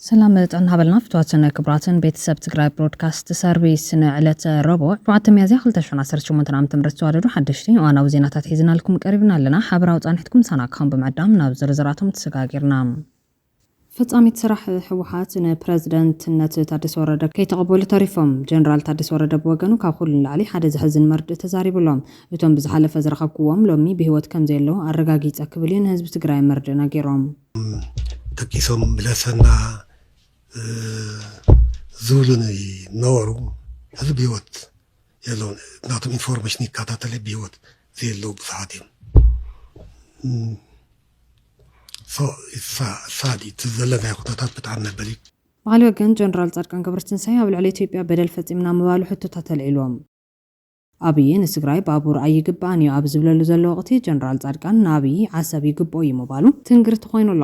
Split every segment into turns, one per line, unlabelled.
ሰላም ጥዕና ሃበልና ፍትዋትን ክብራትን ቤተሰብ ትግራይ ብሮድካስት ሰርቪስ ንዕለተ ረቡዕ ሸውዓተ ሚያዝያ 218 ዓ ም ዝተዋደዱ ሓደሽቲ እዋናዊ ዜናታት ሒዝናልኩም ቀሪብና ኣለና ሓበራዊ ፃንሒትኩም ሳና ካም ብምዕዳም ናብ ዝርዝራቶም ተሰጋጊርና ፈፃሚት ስራሕ ህወሓት ንፕረዚደንትነት ታደሰ ወረደ ከይተቐበሉ ተሪፎም። ጀነራል ታደሰ ወረደ ብወገኑ ካብ ኹሉ ንላዕሊ ሓደ ዘሕዝን መርድእ ተዛሪቡ ኣሎ። እቶም ብዝሓለፈ ዝረኸብኩዎም ሎሚ ብህይወት ከምዘየለዉ ኣረጋጊፀ ክብል እዩ ንህዝቢ ትግራይ መርድእ ነጊሮም። እቶም ደቂሶም
ምለሰና ዝብሉኒ ነበሩ ሕዚ ብህይወት የለዉን። ናቶም ኢንፎርሜሽን ይከታተል እየ ብህይወት ዘየለዉ ብዙሓት እዮም። ሳዲ እቲ ዘለናዮ ኩነታት ብጣዕሚ መበሊ። ብኻሊእ ወገን
ጀነራል ፃድቃን ገብረትንሳኤ ኣብ ልዕሊ ኢትዮጵያ በደል ፈፂምና ምባሉ ሕቶታት ኣልዒሉዎም። ኣብይ ንትግራይ ባቡር ኣይግበኣን እዩ ኣብ ዝብለሉ ዘሎ ወቕቲ ጀነራል ፃድቃን ንኣብይ ዓሰብ ይግበኦ እዩ ምባሉ ትንግርቲ ኾይኑ ኣሎ።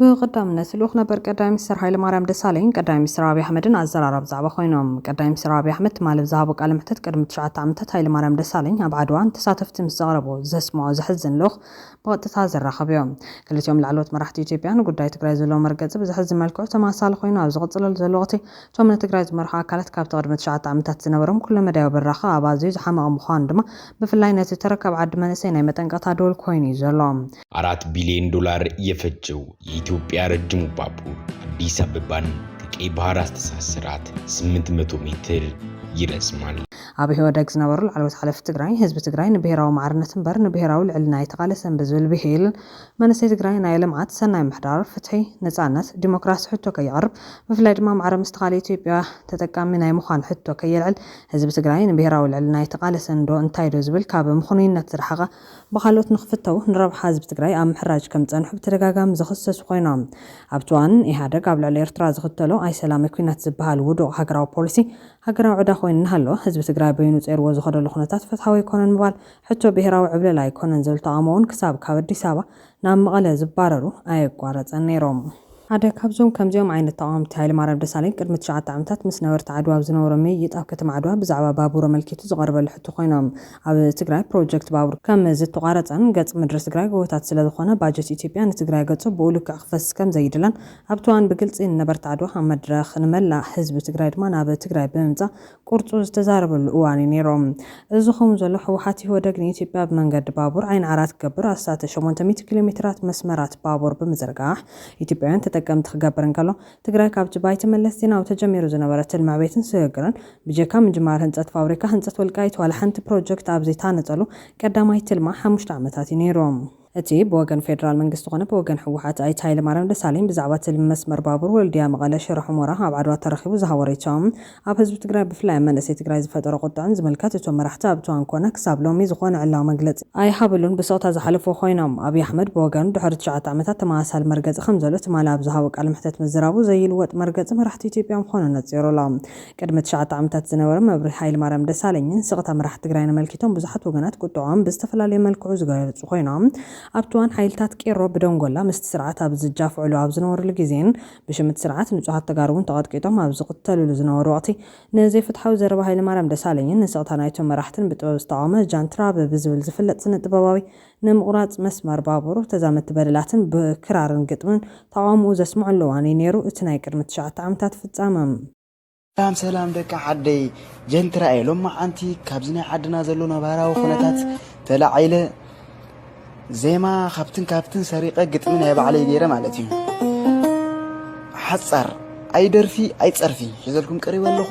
ብቐዳምነት ልኡኽ ነበር ቀዳማይ ሚኒስተር ሃይለማርያም ደሳለኝን ቀዳማይ ሚኒስተር ኣብይ ኣሕመድን ኣዘራራቢ ዛዕባ ኰይኖም። ቀዳማይ ሚኒስተር ኣብይ ኣሕመድ ትማሊ ኣብ ዝሃቦ ቃለ መሕትት ቅድሚ ትሽዓተ ዓመታት ሃይለማርያም ደሳለኝ ኣብ ዓድዋ ንተሳተፍቲ ምስ ዘቕረቦ ዘስምዖ ዘሕዝን ልኡኽ ብቐጥታ ዘራኸብዮ። ክልቲኦም ላዕለዎት መራሕቲ ኢትዮጵያ ንጉዳይ ትግራይ ዘለዎም መርገጺ ብዘሕዝን መልክዑ ተመሳሳሊ ኰይኑ ኣብ ዝቕጽለሉ ዘሎ ወቕቲ እቶም ንትግራይ ዝመርሑ ኣካላት ካብቲ ቅድሚ ትሽዓተ ዓመታት ዝነበሮም ኵለመዳያዊ ብራኸ ኣብ ኣዝዩ ዝሓመቐ ምዃኑ ድማ ብፍላይ ነቲ ተረካብ ዓዲ መንእሰይ ናይ መጠንቀቕታ ደወል ኰይኑ'ዩ ዘሎ። አራት ቢሊዮን
ዶላር የፈጀው የኢትዮጵያ ረጅሙ ባቡር አዲስ አበባን ከቀይ ባህር አስተሳሰራት 800 ሜትር ይረዝማል። ኣብ ኢህወደግ ዝነበሩ ላዕለዎት ሓለፍቲ ትግራይ፣ ህዝቢ ትግራይ ንብሄራዊ ማዕርነት እምበር ንብሄራዊ ልዕልና ኣይተቓለሰን ብዝብል ብሂል፣ መንእሰይ ትግራይ ናይ ልምዓት፣ ሰናይ ምሕዳር፣ ፍትሒ፣ ነፃነት፣ ዲሞክራሲ ሕቶ ከየቕርብ፣ ብፍላይ ድማ ማዕረ ምስ ተኻልእ ኢትዮጵያ ተጠቃሚ ናይ ምዃን ሕቶ ከየልዕል፣ ህዝቢ ትግራይ ንብሄራዊ ልዕልና ኣይተቓለሰን ዶ እንታይዶ ዝብል ካብ ምኽኑይነት ዝረሓቐ ብኻልኦት ንክፍተው ንረብሓ ህዝቢ ትግራይ ኣብ ምሕራጅ ከምዝፀንሑ ብተደጋጋሚ ዝኽሰሱ ኮይኖም ኣብቲ እዋን ኢህኣደግ ኣብ ልዕሊ ኤርትራ ዝኽተሎ ኣይሰላምይ ኩናት ዝበሃል ውዱቕ ሃገራዊ ፖሊሲ ሃገራዊ ዕዳ ኮይኑ እናሃለወ ህዝቢ ትግራይ በይኑ ፀይርዎ ዝኸደሉ ኩነታት ፍትሓዊ ኣይኮነን ምባል ሕቶ ብሄራዊ ዕብለላ ኣይኮነን ዝብል ተቓውሞ'ውን ክሳብ ካብ ኣዲስ ኣበባ ናብ መቐለ ዝባረሩ ኣየቋረጸን ነይሮም። ሓደ ካብዞም ከምዚኦም ዓይነት ተቓወምቲ ሃይለማርያም ደሳለኝ ቅድሚ ትሽዓተ ዓመታት ምስ ነበርቲ ዓድዋ ኣብ ዝነበሮ ምይይጥ ኣብ ከተማ ዓድዋ ብዛዕባ ባቡር ኣመልኪቱ ዝቐረበሉ ሕቶ ኮይኑ ኣብ ትግራይ ፕሮጀክት ባቡር ከም ዝተቋረጸን ገጽ ምድሪ ትግራይ ጎቦታት ስለ ዝኾነ ባጀት ኢትዮጵያ ንትግራይ ገጹ ብኡ ልክዕ ክፈስስ ከም ዘይድለን ኣብቲ እዋን ብግልጺ ንነበርቲ ዓድዋ ኣብ መድረኽ ንመላእ ህዝቢ ትግራይ ድማ ናብ ትግራይ ብምምጻእ ቁርፁ ዝተዛረበሉ እዋን እዩ ነይሩ። እዚ ከምኡ ዘሎ ህወሓት ኢህወደግ ንኢትዮጵያ ብመንገዲ ባቡር ዓይኒ ዓራት ክገብር ኣስታት ሸሞንተ ሚእቲ ኪሎ ሜትራት መስመራት ባቡር ብምዝርጋሕ ኢትዮጵያውያን ተጠቀምቲ ክገብር እንከሎ ትግራይ ካብቲ ብኣይተ መለስ ዜናዊ ተጀሚሩ ዝነበረ ትልሚ ዕቤትን ስግግርን ብጀካ ምጅማር ህንፀት ፋብሪካ ህንፀት ወልቃይት ዋላ ሓንቲ ፕሮጀክት ኣብ ዘይተሃነፀሉ ቀዳማይ ትልማ ሓሙሽተ ዓመታት እዩ ነይሩ። እቲ ብወገን ፌደራል መንግስቲ ኮነ ብወገን ህወሓት ኣይተ ሃይለማርያም ደሳለኝ ብዛዕባ ትልሚ መስመር ባቡር ወልድያ መቐለ ሽረ ሑሞራ ኣብ ዓድዋ ተረኺቡ ዝሃቦ ሪኢቶ ኣብ ህዝቢ ትግራይ ብፍላይ ኣብ መንእሰይ ትግራይ ዝፈጠሮ ቁጥዐን ዝምልከት እቶም መራሕቲ ኣብ እቶን ኮነ ክሳብ ሎሚ ዝኾነ ዕላዊ መግለፂ ኣይሃብሉን ብስቕታ ዝሓለፍዎ ኮይኖም። ኣብይ ኣሕመድ ብወገኑ ድሕሪ ትሽዓተ ዓመታት ተመሳሳሊ መርገፂ ከምዘሎ ትማሊ ኣብ ዝሃቦ ቃለ መሕተት ምዝራቡ ዘይልወጥ መርገፂ መራሕቲ ኢትዮጵያ ምዃኑ ኣነፂሩ ኣሎ። ቅድሚ ትሽዓተ ዓመታት ዝነበረ መብርሂ ሃይለማርያም ደሳለኝን ስቕታ መራሕቲ ትግራይን ኣመልኪቶም ብዙሓት ወገናት ቁጥዐኦም ብዝተፈላለየ መልክዑ ዝገለፁ ኮይኖም ኣብቲ እዋን ሓይልታት ቄሮ ብደንጎላ ምስቲ ስርዓት ኣብ ዝጃፍዕሉ ኣብ ዝነበርሉ ግዜን ብሽም እቲ ስርዓት ንፁሃት ተጋሩ እውን ተቐጥቂጦም ኣብ ዝቕተልሉ ዝነበሩ ወቕቲ ንዘይፍትሓዊ ዘረባ ሃይለማርያም ደሳለኝን ንስቕታ ናይቶም መራሕትን ብጥበብ ዝተቓወመ ጃንትራ ብብዝብል ዝፍለጥ ስነ-ጥበባዊ ንምቑራጽ መስመር ባቡር፣ ተዛመድቲ በደላትን ብክራርን ግጥምን ተቓውሞኡ ዘስምዑሉ እዋን እዩ ነይሩ፣ እቲ ናይ ቅድሚ ትሽዓተ ዓመታት ፍጻመ። ሰላም ሰላም
ደቂ ዓደይ ጀንት ራእየ ሎማዓንቲ ካብዚ ናይ ዓድና ዘሎ ነባራዊ ኩነታት ተላዒለ ዜማ ካብትን ካብትን ሰሪቀ ግጥሚ ናይ ባዕለይ ገይረ ማለት እዩ ሓፃር ኣይደርፊ ኣይፀርፊ ሒዘልኩም ቀሪበ ኣለኹ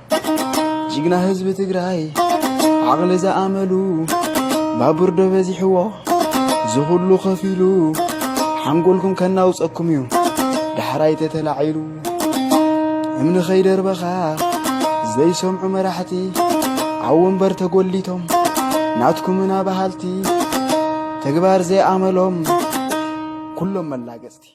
ጅግና ህዝቢ ትግራይ ዓቕሊ ዝኣመሉ ባቡር ዶ በዚሕዎ ዝኹሉ ኸፊሉ ሓንጎልኩም ከናውፀኩም እዩ ዳሕራይ ተተላዒሉ እምኒ ኸይደርበኻ ዘይሰምዑ መራሕቲ ኣብ ወንበር ተጎሊቶም ናትኩምና በሃልቲ ተግባር ዘይኣመሎም ኩሎም መላገፅቲ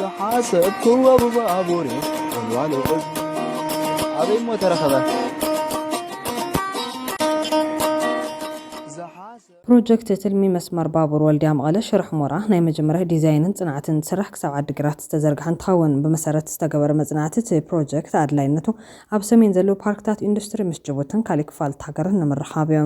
ዝሓሰብክዎ ብባቡር ኣዋሎ ኣበይ እሞ ተረኸበ
ፕሮጀክት ትልሚ መስመር ባቡር ወልድያ መቐለ ሽረ ሑመራ ናይ መጀመርያ ዲዛይንን ፅንዓትን እንትስራሕ ክሳብ ዓዲግራት ዝተዘርግሐ እንትኸውን ብመሰረት ዝተገበረ መፅናዕቲ እቲ ፕሮጀክት ኣድላይነቱ ኣብ ሰሜን ዘለዉ ፓርክታት ኢንዱስትሪ ምስ ጅቡትን ካሊእ ክፋልት ሃገርን ንምርኻብ እዩ።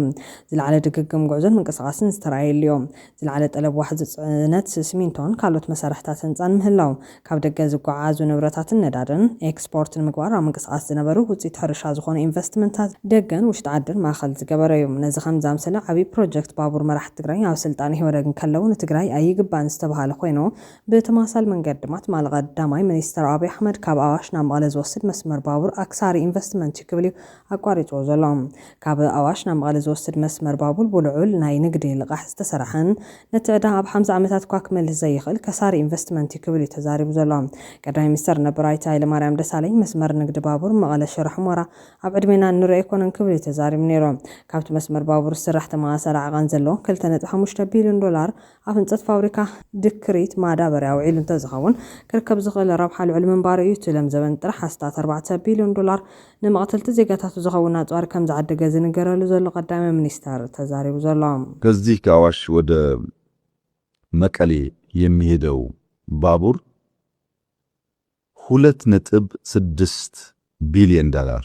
ዝለዓለ ድግግም ጉዕዞን ምንቅስቓስን ዝተርኣየሉ እዩ። ዝለዓለ ጠለብ ዋሕዚ ፅዕነት ስሚንቶን ካልኦት መሳርሕታት ህንፃን ምህላው፣ ካብ ደገ ዝጓዓዓዙ ንብረታትን ነዳድን ኤክስፖርት ንምግባር ኣብ ምንቅስቓስ ዝነበሩ ውፅኢት ሕርሻ ዝኾኑ ኢንቨስትመንታት ደገን ውሽጢ ዓድን ማእኸል ዝገበረ ዩ። ነዚ ከም ዝኣምሰለ ዓብዪ ፕሮጀክት ባቡር መራሕቲ ትግራይ ኣብ ስልጣን ኢህወደግ እንከለው ንትግራይ ኣይግባእን ዝተብሃለ ኾይኑ ብተመሳሳሊ መንገዲ ድማ ትማሊ ቀዳማይ ሚኒስትር ኣብይ ኣሕመድ ካብ ኣዋሽ ናብ መቐለ ዝወስድ መስመር ባቡር ኣክሳሪ ኢንቨስትመንት ዩ ክብል ዩ ኣቋሪፅዎ ዘሎ። ካብ ኣዋሽ ናብ መቐለ ዝወስድ መስመር ባቡር ብልዑል ናይ ንግዲ ልቓሕ ዝተሰራሕን ነቲ ዕዳ ኣብ ሓምሳ ዓመታት እኳ ክመልስ ዘይኽእል ከሳሪ ኢንቨስትመንት እዩ ክብል እዩ ተዛሪቡ ዘሎ ቀዳማይ ሚኒስተር ነበር ኣይተ ሃይለማርያም ደሳለኝ። መስመር ንግዲ ባቡር መቐለ ሽረ ሑመራ ኣብ ዕድሜና እንሪኦ ኣይኮነን ክብል እዩ ተዛሪቡ ነይሩ። ካብቲ መስመር ባቡር ዝስራሕ ተመሳሳሊ ዓቐን ዘለዎ ክልተ ነጥቢ ሓሙሽተ ቢልዮን ዶላር ኣብ ህንፀት ፋብሪካ ድክሪት ማዳበርያ ውዒሉ እንተዝኸውን ክርከብ ዝኽእል ረብሓ ልዑል ምንባሩ እዩ ትለም ዘበን ጥራሕ ኣስታት ኣርባዕተ ቢልዮን ዶላር ንመቕተልቲ ዜጋታቱ ዝኸውን ኣፅዋር ከምዝዓደገ ዝንገረሉ ዘሎ ቀዳማይ ሚኒስተር ተዛሪቡ ዘሎ። ከዚህ ከኣዋሽ
ወደ መቀሌ የሚሄደው ባቡር ሁለት ነጥብ ስድስት ቢልየን ዳላር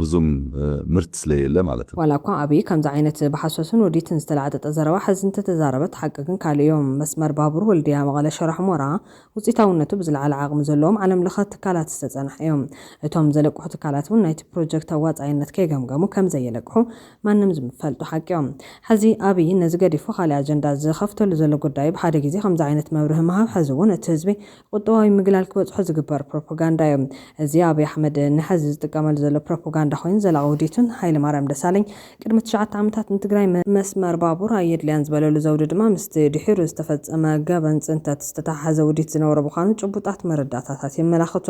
ብዙም ምርት ስለ የለ ማለት ነው። ዋላ እኳ ኣብይ ከምዚ
ዓይነት ብሓሶትን ውዲትን ዝተላዕጠጠ ዘረባ ሕዚ እንተተዛረበት ሓቂ ግን ካልእ እዩ። መስመር ባቡር ወልድያ መቐለ ሽረ ሑሞራ ውፅኢታውነቱ ብዝለዓለ ዓቕሚ ዘለዎም ዓለም ለኸ ትካላት ዝተፀንሐ እዩ። እቶም ዘለቅሑ ትካላት እውን ናይቲ ፕሮጀክት ኣዋፃኣይነት ከይገምገሙ ከምዘየለቅሑ ማንም ዝምፈልጦ ሓቂ እዩ። ሕዚ ኣብይ ነዚ ገዲፉ ካሊእ ኣጀንዳ ዝኸፍተሉ ዘሎ ጉዳይ ብሓደ ግዜ ከምዚ ዓይነት መብርሂ ምሃብ ሕዚ እውን እቲ ህዝቢ ቁጠባዊ ምግላል ክበጽሖ ዝግበር ፕሮፖጋንዳ እዩ። እዚ ኣብይ ኣሕመድ ንሐዚ ዝጥቀመሉ ዘሎ ፕሮፖጋንዳ ኮይኑ ዘላቂ ውዲቱን ሃይለማርያም ደሳለኝ ቅድሚ ትሽዓተ ዓመታት ንትግራይ መስመር ባቡር ኣየድልያን ዝበለሉ ዘውዲ ድማ ምስቲ ድሒሩ ዝተፈጸመ ገበን ጽንተት ዝተተሓሐዘ ውዲት ዝነበሮ ምዃኑ ጭቡጣት መረዳእታታት የመላኽቱ።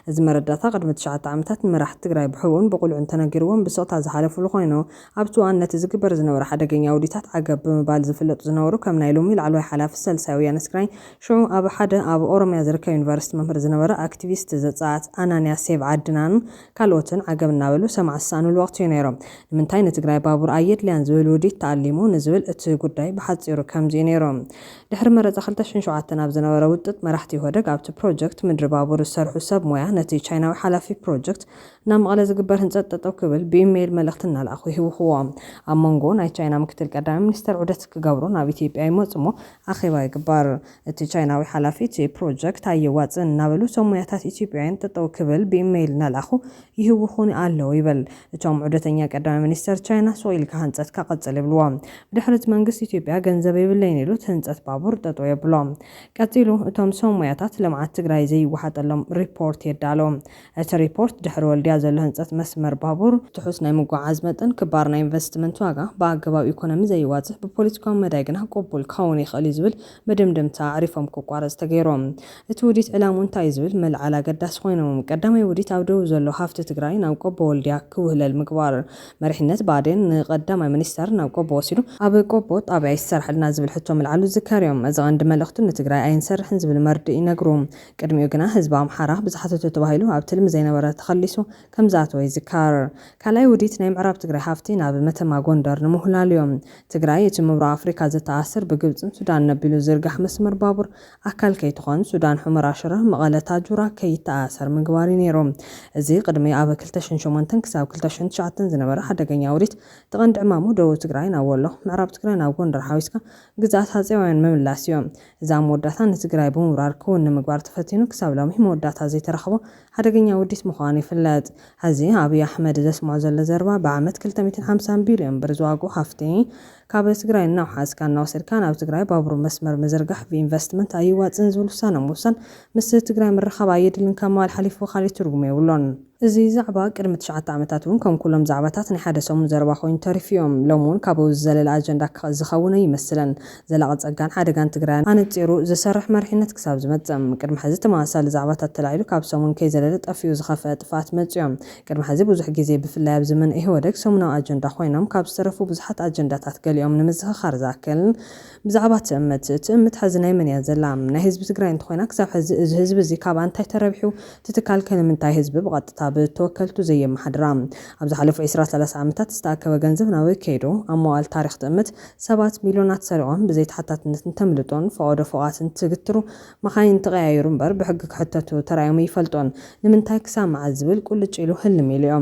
እዚ መረዳእታ ቅድሚ ትሽዓተ ዓመታት ንመራሕቲ ትግራይ ብሕቡእን ብቁልዑን ተነጊርዎም ብስቕታ ዝሓለፉሉ ኮይኑ ኣብቲ እዋን ነቲ ዝግበር ዝነበረ ሓደገኛ ውዲታት ዓገብ ብምባል ዝፍለጡ ዝነበሩ ከም ናይ ሎሚ ላዕለዋይ ሓላፊ ሳልሳይ ወያነ ትግራይን ሽዑ ኣብ ሓደ ኣብ ኦሮምያ ዝርከብ ዩኒቨርስቲ መምህር ዝነበረ ኣክቲቪስት ዘፀኣት ኣናንያ ሴቭ ዓድናን ካልኦትን ዓገብ እናበሉ ሰማዒ ዝሰኣንሉ ወቕቲ እዩ ነይሩ። ንምንታይ ንትግራይ ባቡር ኣየድልያን ዝብል ውዲት ተኣሊሙ ንዝብል እቲ ጉዳይ ብሓፂሩ ከምዚ እዩ ነይሩ። ድሕሪ መረፃ ክልተ ሽሕን ሸውዓተን ኣብ ዝነበረ ውጥጥ መራሕቲ ኢህወደግ ኣብቲ ፕሮጀክት ምድሪ ባቡር ዝሰርሑ ሰብ ሞያ ነቲ ቻይናዊ ሓላፊ ፕሮጀክት ናብ መቐለ ዝግበር ህንፀት ጠጠው ክብል ብኢሜይል መልእኽቲ እናልኣኹ ይህውኽዎ። ኣብ ሞንጎ ናይ ቻይና ምክትል ቀዳማይ ሚኒስትር ዑደት ክገብሩ ናብ ኢትዮጵያ ይመፁ እሞ ኣኼባ ይግበር። እቲ ቻይናዊ ሓላፊ እቲ ፕሮጀክት ኣየዋፅእን እናበሉ እቶም ሙያታት ኢትዮጵያውያን ጠጠው ክብል ብኢሜይል እናልኣኹ ይህውኹኒ ኣለው ይብል። እቶም ዑደተኛ ቀዳማይ ሚኒስትር ቻይና ሱቕ ኢልካ ህንፀትካ ቀፅል ይብልዎ። ብድሕሪ እቲ መንግስቲ ኢትዮጵያ ገንዘብ የብለይን ኢሉ እቲ ህንፀት ባቡር ጠጠው የብሎ። ቀፂሉ እቶም ሰብሙያታት ልምዓት ትግራይ ዘይወሓጠሎም ሪፖርት የዳልው። እቲ ሪፖርት፣ ድሕሪ ወልድያ ዘሎ ህንፀት መስመር ባቡር፣ ትሑት ናይ ምጉዕዓዝ መጠን፣ ክባር ናይ ኢንቨስትመንት ዋጋ፣ ብኣገባብ ኢኮኖሚ ዘይዋፅእ፣ ብፖለቲካዊ መዳይ ግና ቅቡል ክኸውን ይኽእል እዩ ዝብል መደምደምታ ኣዕሪፎም ክቋረፅ ተገይሩ። እቲ ውዲት ዕላምኡ እንታይ እዩ ዝብል ምልዓል ኣገዳሲ ኮይኑ። ቀዳማይ ውዲት ኣብ ደቡብ ዘሎ ሃፍቲ ትግራይ ናብ ቆቦ ወልድያ ክውህለል ምግባር። መሪሕነት ብኣዴን ንቀዳማይ ሚኒስተር ናብ ቆቦ ወሲዱ ኣብ ቆቦ ጣብያ ይሰራሓልና ዝብል ሕቶ ምልዓሉ ዝዝከር እዩ። እዚ ቀንዲ መልእኽቱ ንትግራይ ኣይንሰርሕን ዝብል መርድእ እዩ ነግሩ። ቅድሚኡ ግና ህዝቢ ኣምሓራ ብዝሓተቶ ተባሂሉ ኣብ ትልሚ ዘይነበረ ተኸሊሱ ከምዝኣተወ ይዝከር። ካልኣይ ውዲት ናይ ምዕራብ ትግራይ ሃፍቲ ናብ መተማ ጎንደር ንምውህላልዮ። ትግራይ እቲ ምብራቕ ኣፍሪካ ዘተኣስር ብግብፅን ሱዳንን ነቢሉ ዝዝርጋሕ መስመር ባቡር ኣካል ከይትኾን ሱዳን ሑመራ ሽረ መቐለ ታጁራ ከይተኣኣሰር ምግባር እዩ ነይሩ። እዚ ቅድሚ ኣብ ክልተ ሽሕን ሸሞንተን ክሳብ ክልተ ሽሕን ትሽዓተን ዝነበረ ሓደገኛ ውዲት እቲ ቀንዲ ዕማሙ ደቡብ ትግራይ ናብ ወሎ ምዕራብ ትግራይ ናብ ጎንደር ሓዊስካ ግዝኣት ሃፀያውያን ምምላስ እዩ። እዛ መወዳእታ ንትግራይ ብምውራር ክውን ንምግባር ተፈቲኑ ክሳብ ሎሚ መወዳእታ ዘይተረኸቦ ሓደገኛ ውዲት ምዃኑ ይፍለጥ። ሐዚ ኣብይ ኣሕመድ ዘስምዖ ዘሎ ዘረባ ብዓመት ክልተ ሚእትን ሓምሳን ቢልዮን ብር ዝዋግኡ ሃፍቲ ካብ ትግራይ እናውሓስካ እናወሰድካ ናብ ትግራይ ባቡር መስመር ምዝርጋሕ ብኢንቨስትመንት ኣየዋፅእን ዝብል ውሳነ ምውሳን ምስ ትግራይ ምርኻብ ኣየድልን ካብ ምባል ሓሊፉ ካሊእ ትርጉም የብሎን። እዚ ዛዕባ ቅድሚ ትሽዓተ ዓመታት እውን ከም ኩሎም ዛዕባታት ናይ ሓደ ሰሙን ዘረባ ኮይኑ ተሪፉ እዩ። ሎሚ እውን ካብኡ ዝዘለለ ኣጀንዳ ዝኸውን ኣይመስልን። ዘላቒ ፀጋን ሓደጋን ትግራይ ኣነፂሩ ዝሰርሕ መሪሕነት ክሳብ ዝመፅእ ቅድሚ ሕዚ ተመሳሳሊ ዛዕባታት ተላዒሉ ካብ ሰሙን ከይዘለለ ጠፊኡ ዝኸፈኣ ጥፍኣት መፂኡ እዩ። ቅድሚ ሕዚ ብዙሕ ግዜ ብፍላይ ኣብ ዘመነ ኢህወደግ ሰሙናዊ ኣጀንዳ ኮይኖም ካብ ዝተረፉ ብዙሓት ኣጀንዳታት ገሊኦም ንምዝኽኻር ዝኣክል ብዛዕባ ትእምት፣ ትእምት ሐዚ ናይ መን እያ ዘላ? ናይ ህዝቢ ትግራይ እንተኾይና ክሳብ ሐዚ እዚ ህዝቢ እዚ ካብ ኣንታይ ተረቢሑ? እቲ ትካል ከ ንምንታይ ህዝቢ ብቐጥታ ብተወከልቱ ዘየመሓድራ? ኣብ ዝሓለፉ ዕስራ ሰላሳ ዓመታት ዝተኣከበ ገንዘብ ናበይ ከይዱ? ኣብ መዋእል ታሪኽ ትእምት ሰባት ሚልዮናት ሰሪቖም ብዘይተሓታትነት እንተምልጡን ፈቐዶ ፎቓት እንትግትሩ መኻይን ተቐያይሩ እምበር ብሕጊ ክሕተቱ ተራእዮም እይፈልጡን። ንምንታይ ክሳብ መዓዝ ዝብል ቁልጭ ኢሉ ህልም ኢሉ እዮ።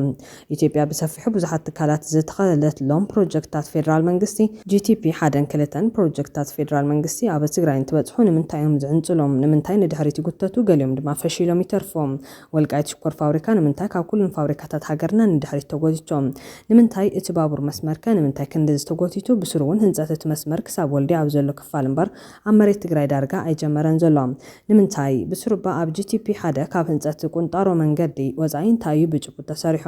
ኢትዮጵያ ብሰፊሑ ብዙሓት ትካላት ዝተኸለትሎም ፕሮጀክትታት ፌደራል መንግስቲ፣ GTP ሓደን ክልተን፣ ፕሮጀክትታት ፌደራል መንግስቲ ኣብ ትግራይ እንትበፅሑ ንምንታይ እዮም ዝዕንፅሉ? ንምንታይ ንድሕሪት ይጉተቱ? ገሊኦም ድማ ፈሺሎም ይተርፉ? ወልቃይት ሽኮር ፋብሪካ ንምንታይ ካብ ኩሉን ፋብሪካታት ሃገርና ንድሕሪት ተጎቲቱ? ንምንታይ እቲ ባቡር መስመር ከ ንምንታይ ክንድዚ ተጎቲቱ? ብስሩ እውን ህንፀት እቲ መስመር ክሳብ ወልድያ ኣብ ዘሎ ክፋል እምበር ኣብ መሬት ትግራይ ዳርጋ ኣይጀመረን ዘሎ። ንምንታይ? ብስሩባ ኣብ GTP ሓደ ካብ ህንፀት ቁንጣሮ መንገዲ ወፃኢ እንታይ እዩ ብጭቡጥ ተሰሪሑ?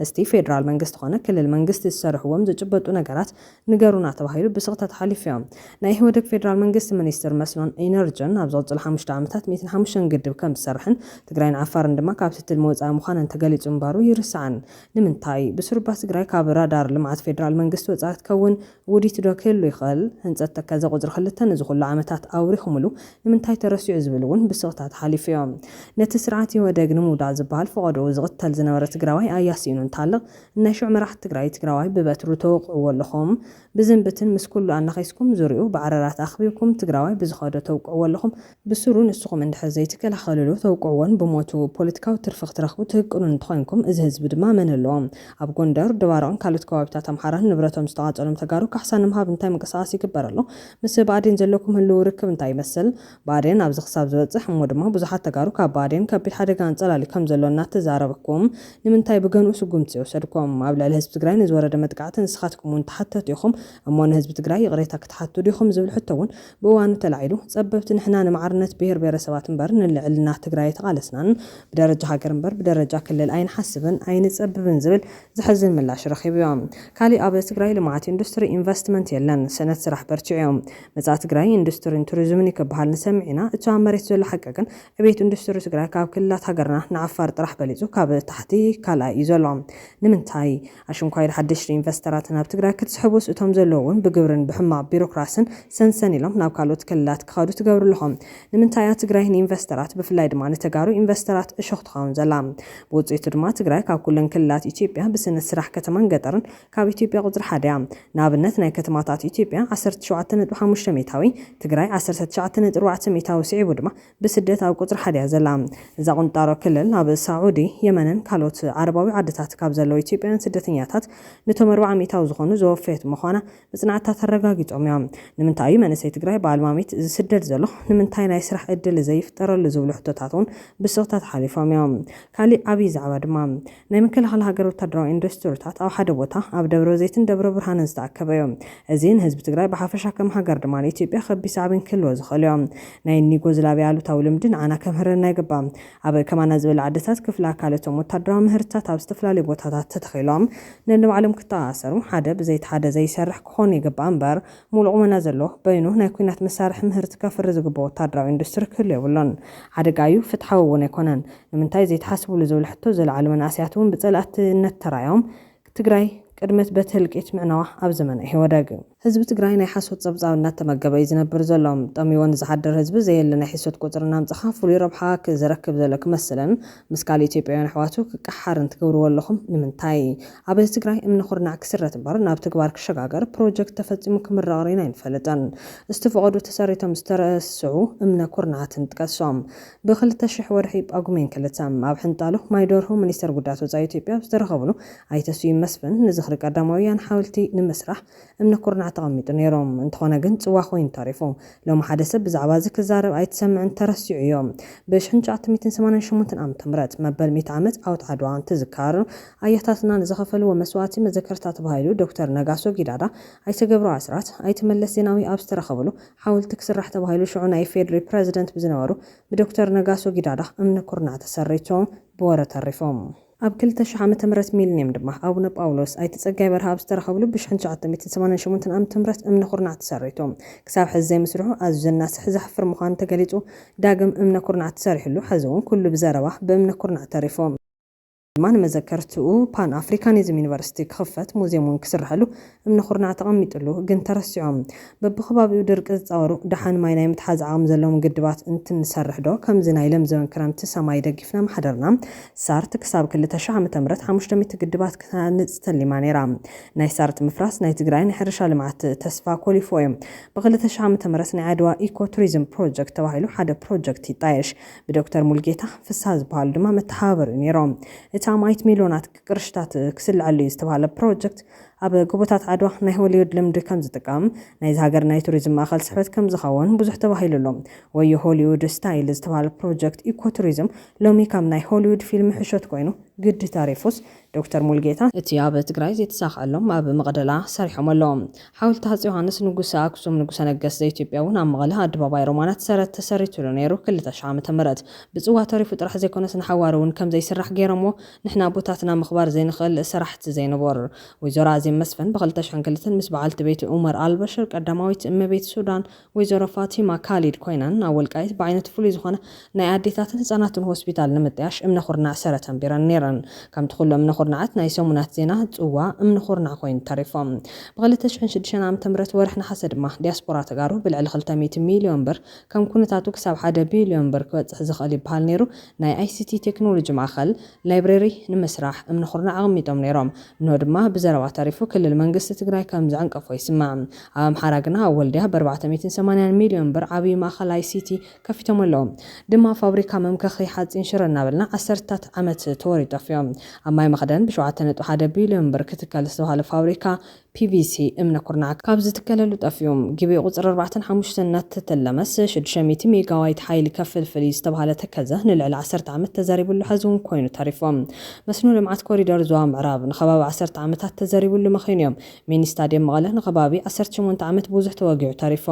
እስቲ ፌዴራል መንግስቲ ኮነ ክልል መንግስቲ ዝሰረሕዎም ዝጭበጡ ነገራት ንገሩና ተባሂሉ ብስቕታ ተሓሊፉ እዩ። ናይ ኢህወደግ ፌዴራል መንግስቲ ሚኒስትር መስኖን ኢነርጅን ኣብ ዝቕፅሉ ሓሙሽተ ዓመታት ሚእትን ሓሙሽተን ግድብ ከምዝሰርሕን ትግራይን ዓፋርን ድማ ካብቲ ትልሚ ወፃኢ ምዃነን ተገሊፁ ምንባሩ ይርሳዕን። ንምንታይ? ብስሩባ ትግራይ ካብ ራዳር ልምዓት ፌዴራል መንግስቲ ወፃኢ ክትከውን ውዲት ዶ ክህሉ ይኽእል? ህንጸት ተከዘ ቁጽሪ ክልተ ነዚ ኩሉ ዓመታት ኣውሪኹምሉ ንምንታይ ተረሲዑ ዝብል ውን ብስቕታ ተሓሊፉዮ። ነቲ ስርዓት ኢህወደግ ንምውዳቕ ዝብሃል ፈቐድኡ ዝቕተል ዝነበረ ትግራዋይ ኣያ ሲኢኑ እንተሃልቕ ናይ ሽዑ መራሕቲ ትግራይ ትግራዋይ ብበትሩ ተወቕዕዎ ኣለኹም። ብዝምብትን ምስ ኩሉ ኣናኺስኩም ዙርይኡ ብዓረራት ኣኽቢብኩም ትግራዋይ ብዝኸዶ ተውቅዕዎ ኣለኹም። ብስሩ ንስኹም እንድሕር ዘይትከላኸልሉ ተውቅዕዎን ብሞቱ ፖለቲካዊ ትርፊ ክትረኽቡ ትህቅኑን እንተኾይንኩም እዚ ህዝቢ ድማ መን ኣለዎ ኣብ ጎንደር ደባርቕን ካልኦት ከባቢታት ኣምሓራን ንብረቶም ዝተቓፀሎም ተጋሩ ካሕሳ ንምሃብ እንታይ ምንቅስቓስ ይግበር ኣሎ ምስ ብኣዴን ዘለኩም ህልዊ ርክብ እንታይ ይመስል ብኣዴን ኣብዚ ክሳብ ዝበፅሕ እሞ ድማ ብዙሓት ተጋሩ ካብ ብኣዴን ከቢድ ሓደጋ ኣንፀላልዩ ከም ዘሎ እናተዛረብኩም ንምንታይ ብገንኡ ስጉምቲ ዘይወሰድኩም ኣብ ልዕሊ ህዝቢ ትግራይ ንዝወረደ መጥቃዕቲ ንስኻትኩም እውን ተሓተቲ ኢኹም እሞ ንህዝቢ ትግራይ ይቕሬታ ክትሓቱ ዲኹም ዝብል ሕቶ እውን ብእዋኑ ተላዒሉ ፀበብቲ ንሕና ንማዕርነት ብሄር ብሄረሰባት እምበር ንልዕልና ትግራይ ኣይተቓለስናን፣ ብደረጃ ሃገር እምበር ብደረጃ ክልል ኣይንሓስብን ኣይንፀብብን ዝብል ዘሕዝን ምላሽ ረኺቡዮ። ካሊእ ኣብ ትግራይ ልምዓት ኢንዱስትሪ፣ ኢንቨስትመንት የለን። ስእነት ስራሕ በርቲዑዮ። መፃኢ ትግራይ ኢንዱስትሪን ቱሪዝምን እዩ ክበሃል ንሰምዕ ኢና፣ እቱ ኣብ መሬት ዘሎ ሓቂ ግን ዕብየት ኢንዱስትሪ ትግራይ ካብ ክልላት ሃገርና ንዓፋር ጥራሕ በሊፁ ካብ ታሕቲ ካልኣይ እዩ ዘሎ። ንምንታይ? ኣሽንኳይ'ዶ ሓደሽቲ ኢንቨስተራት ናብ ትግራይ ክትስሕቡስ እቶም ዘለዉ እውን ብግብርን ብሕማቕ ቢሮክራስን ሰንሰን ኢሎም ናብ ካልኦት ክልላት ክኸዱ ትገብሩ ኣለኹም? ንምንታይ እያ ትግራይ ንኢንቨስተራት ብፍላይ ድማ ንተጋሩ ኢንቨስተራት እሾኽ ትኸውን ዘላ? ብውፅኢቱ ድማ ትግራይ ካብ ኩለን ክልላት ኢትዮጵያ ብስእነት ስራሕ ከተማን ገጠርን ካብ ኢትዮጵያ ቁፅሪ ሓደ እያ። ንኣብነት ናይ ከተማታት ኢትዮጵያ ዓሰርተ ሸውዓተ ነጥቢ ሓሙሽተ ሚእታዊ፣ ትግራይ ዓሰርተ ትሽዓተ ነጥቢ ኣርባዕተ ሚእታዊ ስዒቡ ድማ ብስደት ኣብ ቁፅሪ ሓደ እያ ዘላ እዛ ቁንጣሮ ክልል። ኣብ ሳዑዲ፣ የመንን ካልኦት ዓረባዊ ዓድታት ካብ ዘለዉ ኢትዮጵያውያን ስደተኛታት ንቶም ኣርብዓ ሚእታዊ ዝኾኑ ዘወፈየት ምዃና መፅናዕትታት ኣረጋጊፆም እዮም። ንምንታይ እዩ መንእሰይ ትግራይ ብኣልማሚት ዝስደድ ዘሎ? ንምንታይ ናይ ስራሕ እድል ዘይፍጠረሉ ዝብሉ ሕቶታት እውን ብስቕታ ተሓሊፎም እዮም። ካሊእ ዓብዪ ዛዕባ ድማ። ናይ ምክልኻል ሃገር ወታደራዊ ኢንዱስትሪታት ኣብ ሓደ ቦታ ኣብ ደብረዘይትን ደብረብርሃንን ዝተኣከበ እዩ። እዚ ንህዝቢ ትግራይ ብሓፈሻ ከም ሃገር ድማ ንኢትዮጵያ ከቢድ ሳዕቤን ክህልዎ ዝኽእል እዩ። ናይ እኒ ዩጎዝላቪያ ኣሉታዊ ልምዲ ንዓና ከምህረና ይግባእ። ኣብ ከማና ዝበላ ዓድታት ክፍሊ ኣካል እቶም ወታደራዊ ምህርትታት ኣብ ዝተፈላለዩ ቦታታት ተተኺሎም ነንባዕሎም ክተኣኣሰሩ ሓደ ብዘይቲ ሓደ ዘይሰርሕ ክኾኑ ይግባእ እምበር ሙሉእ ቁመና ዘለዎ በይኑ ናይ ኩናት መሳርሒ ምህርቲ ከፍሪ ዝግበኦ ወታደራዊ ኢንዱስትሪ ክህሉ የብሉን። ሓደጋ እዩ ፍትሓዊ እውን ኣይኮነን። ንምንታይ ዘይትሓስብሉ ዝብል ሕቶ ዘልዓሉ መናእሰያት እውን ብፀላእትነት ተራእዮም ትግራይ ቅድመት በቲ ህልቂት ምዕናዋ ኣብ ዘመነ ኢህወደግ። ህዝቢ ትግራይ ናይ ሓሶት ፀብፃብ እናተመገበ እዩ ዝነብር ዘሎ። ጠምዩዎ ንዝሓድር ህዝቢ ዘየለ ናይ ሕሶት ቁፅሪ እናምፀኻ ፍሉይ ረብሓ ዝረክብ ዘሎ ክመስልን ምስ ካሊእ ኢትዮጵያውያን ኣሕዋቱ ክቀሓርን ትገብርዎ ኣለኹም ንምንታይ? ኣብ ትግራይ እምኒ ኩርናዕ ክስረት እምበር ናብ ተግባር ክሸጋገር ፕሮጀክት ተፈፂሙ ክምረቕ ሪእና ኣይንፈልጥን። ዝተፈቐዱ ተሰሪቶም ዝተረስዑ እምነ ኩርናዓትን ጥቀሶም። ብ ክልተ ሽሕ ወርሒ ጳጉሜን ክልተ፣ ኣብ ሕንጣሎ ማይ ደርሆ ሚኒስተር ጉዳያት ወጻኢ ኢትዮጵያ ኣብ ዝተረኸብሉ፣ ኣይተ ስዩም መስፍን፣ ንዝኽሪ ቀዳማውያን ሓወልቲ ንምስራሕ እምነ ኩርናዕ ተቐሚጡ ነይሩ። እንተኾነ ግን ጽዋ ኮይኑ ተሪፉ። ሎሚ ሓደ ሰብ ብዛዕባ እዚ ክዛረብ ኣይትሰምዕን ተረሲዑ እዮ። ብ ኣሽሕን ትሽዓተ ሚእትን ሰማንያን ሸሞንተን ዓመተ ምህረት፣ መበል ሚእቲ ዓመት ዓወት ዓድዋ እንትዝከር፣ ኣያታትና ንዝኸፈልዎ መስዋእቲ መዘከርታ ተባሂሉ ዶክተር ነጋሶ ጊዳዳ፣ ኣይተ ገብሩ ኣስራት፣ ኣይተ መለስ ዜናዊ ኣብ ዝተረኸብሉ፣ ሓወልቲ ክስራሕ ተባሂሉ ሽዑ ናይ ኢፌድሪ ፕረዚደንት ብዝነበሩ ብዶክተር ነጋሶ ጊዳዳ እምኒ ኩርናዕ ተሰሪቶም ብወረ ተሪፎም። ኣብ ክልተ ሽሕ ዓመተ ምህረት ሚሊንየም ድማ ኣቡነ ጳውሎስ፣ ኣይተ ጸጋይ በርሀ ኣብ ዝተረኸብሉ ብ ሽሕን ትሽዓተ ሚእትን ሰማንያን ሸሞንተን ዓመተ ምህረት እምኒ ኩርናዕ ተሰሪቱ ክሳብ ሕዚ ዘይምስርሑ ኣዝዩ ዘናስሕ ዘሕፍር ምዃኑ ተገሊጹ ዳግም እምነ ኩርናዕ ተሰሪሕሉ ሕዚ እውን ኩሉ ብዘረባ ብእምነ ኩርናዕ ተሪፉ ድማ ንመዘከርትኡ ፓን ኣፍሪካኒዝም ዩኒቨርሲቲ ክኽፈት ሙዝየም እውን ክስረሐሉ እምነ ኩርናዕ ተቐሚጥሉ ግን ተረሲዖም በቢከባቢኡ ድርቂ ዝፃወሩ ደሓን ማይ ናይ ምትሓዝ ዓቕሚ ዘለዎም ግድባት እንትንሰርሕ ዶ ከምዚ ናይ ለምዘበን ክረምቲ ሰማይ ደጊፍና ምሓደርና ሳርት ክሳብ ክልተ ሽሕ ዓመተ ምህረት ሓሙሽተ ሚእቲ ግድባት ክትሃንፅ ተሊማ ነይራ ናይ ሳርት ምፍራስ ናይ ትግራይ ናይ ሕርሻ ልምዓት ተስፋ ኮሊፍዎ እዩ ብክልተ ሽሕ ዓመተ ምህረት ናይ ዓድዋ ኢኮ ቱሪዝም ፕሮጀክት ተባሂሉ ሓደ ፕሮጀክት ይጣየሽ ብዶክተር ሙልጌታ ፍስሃ ዝበሃሉ ድማ መተሓባበሪ እዩ ነይሮም። እቲ ኣማኢት ሚልዮናት ቅርሽታት ክስልዐሉ እዩ ዝተብሃለ ፕሮጀክት፣ ኣብ ጎቦታት ዓድዋ ናይ ሆሊውድ ልምዲ ከምዝጥቀም፣ ናይዚ ሃገር ናይ ቱሪዝም ማእኸል ስሕበት ከምዝኸውን ብዙሕ ተባሂሉሉ። ወዮ ሆሊውድ ስታይል ዝተብሃለ ፕሮጀክት ኢኮ ቱሪዝም ሎሚ ከም ናይ ሆሊውድ ፊልሚ ሕሾት ኮይኑ ግዲ ተሪፉስ፣ ዶክተር ሙሉጌታ፣ እቲ ኣብ ትግራይ ዘይተሳኸዐሎም ኣብ መቕደላ ሰሪሖም ኣለዉ። ሓወልቲ ሃፄ ዮሃንስ ንጉሰ ኣክሱም ንጉሰ ነገስት ዘኢትዮጵያ እውን ኣብ መቐለ ኣደባባይ ሮማናት ሰረት ተሰሪቱሉ ነይሩ ክልተ ሽሕ ዓመተ ምህረት። ብፅዋ ተሪፉ ጥራሕ ዘይኮነስ ንሓዋሩ እውን ከምዘይስራሕ ገይሮምዎ ንሕና ኣቦታትና ምኽባር ዘይንኽእል ሰራሕቲ ዘይንቡር። ወይዘሮ ኣዜብ መስፍን ብ ክልተ ሽሕን ክልተን ምስ በዓልቲ ቤት ኡመር ኣልበሽር ቀዳማዊት እመቤት ሱዳን ወይዘሮ ፋቲማ ካሊድ ኮይነን ኣብ ወልቃይት ብዓይነቱ ፍሉይ ዝኾነ ናይ ኣዴታትን ህፃናትን ሆስፒታል ንምጥያሽ እምነ ኹርናዕ ሰረት ኣንቢረን ነይረን። ከምቲ ኹሉ እምነ ኹርናዓት ናይ ሰሙናት ዜና ፅዋ እምኒ ኹርናዕ ኮይኑ ተሪፎ። ብ ክልተ ሽሕን ሽዱሽተን ዓመተ ምህረት ወርሒ ነሓሰ ድማ ዲያስፖራ ተጋሩ ብልዕሊ ክልተ ሚእቲ ሚሊዮን ብር ከም ኩነታቱ ክሳብ ሓደ ቢሊዮን ብር ክበፅሕ ዝኽእል ይበሃል ነይሩ ናይ ICT ቴክኖሎጂ ማእኸል ላይብረሪ ንምስራሕ እምኒ ኹርናዕ ኣቐሚጦም ነይሮም። እንሆ ድማ ብዘረባ ተሪፉ ክልል መንግስቲ ትግራይ ከም ዝዕንቀፎ ይስማዕ። ኣብ ኣምሓራ ግና ኣብ ወልድያ በርባዕተ ሚእትን ሰማንያን ሚልዮን ብር ዓብዪ ማእኸል ኣይሲቲ ከፊቶም ኣለዉ። ድማ ፋብሪካ መምከኺ ሓፂን ሽረ እናበልና ዓሰርተታት ዓመት ተወርዩ ጠፊኦም። ኣብ ማይ መኽደን ብሸውዓተ ነጥቢ ሓደ ቢልዮን ብር ክትከል ዝተብሃለ ፋብሪካ PVC፣ እምኒ ኩርናዕ፣ ካብ ዝትከለሉ ጠፊኡ። ግቤ ቁጽሪ ኣርባዕተን ሓሙሽተን እናተተለመስ ሽዱሽተ ሚእቲ ሜጋዋይት ሓይሊ ከፍልፍል እዩ ዝተብሃለ ተከዘ ንልዕሊ ዓሰርተ ዓመት ተዘሪብሉ ሐዚ እውን ኮይኑ ተሪፉ። መስኖ ልምዓት ኮሪደር ዞባ ምዕራብ ንከባቢ ዓሰርተ ዓመታት ተዘሪብሉ መኺኑ እዩ። ሚኒ ስታድየም መቐለ ንከባቢ ዓሰርተ ሸሞንተ ዓመት ብዙሕ ተወጊዑ ተሪፉ።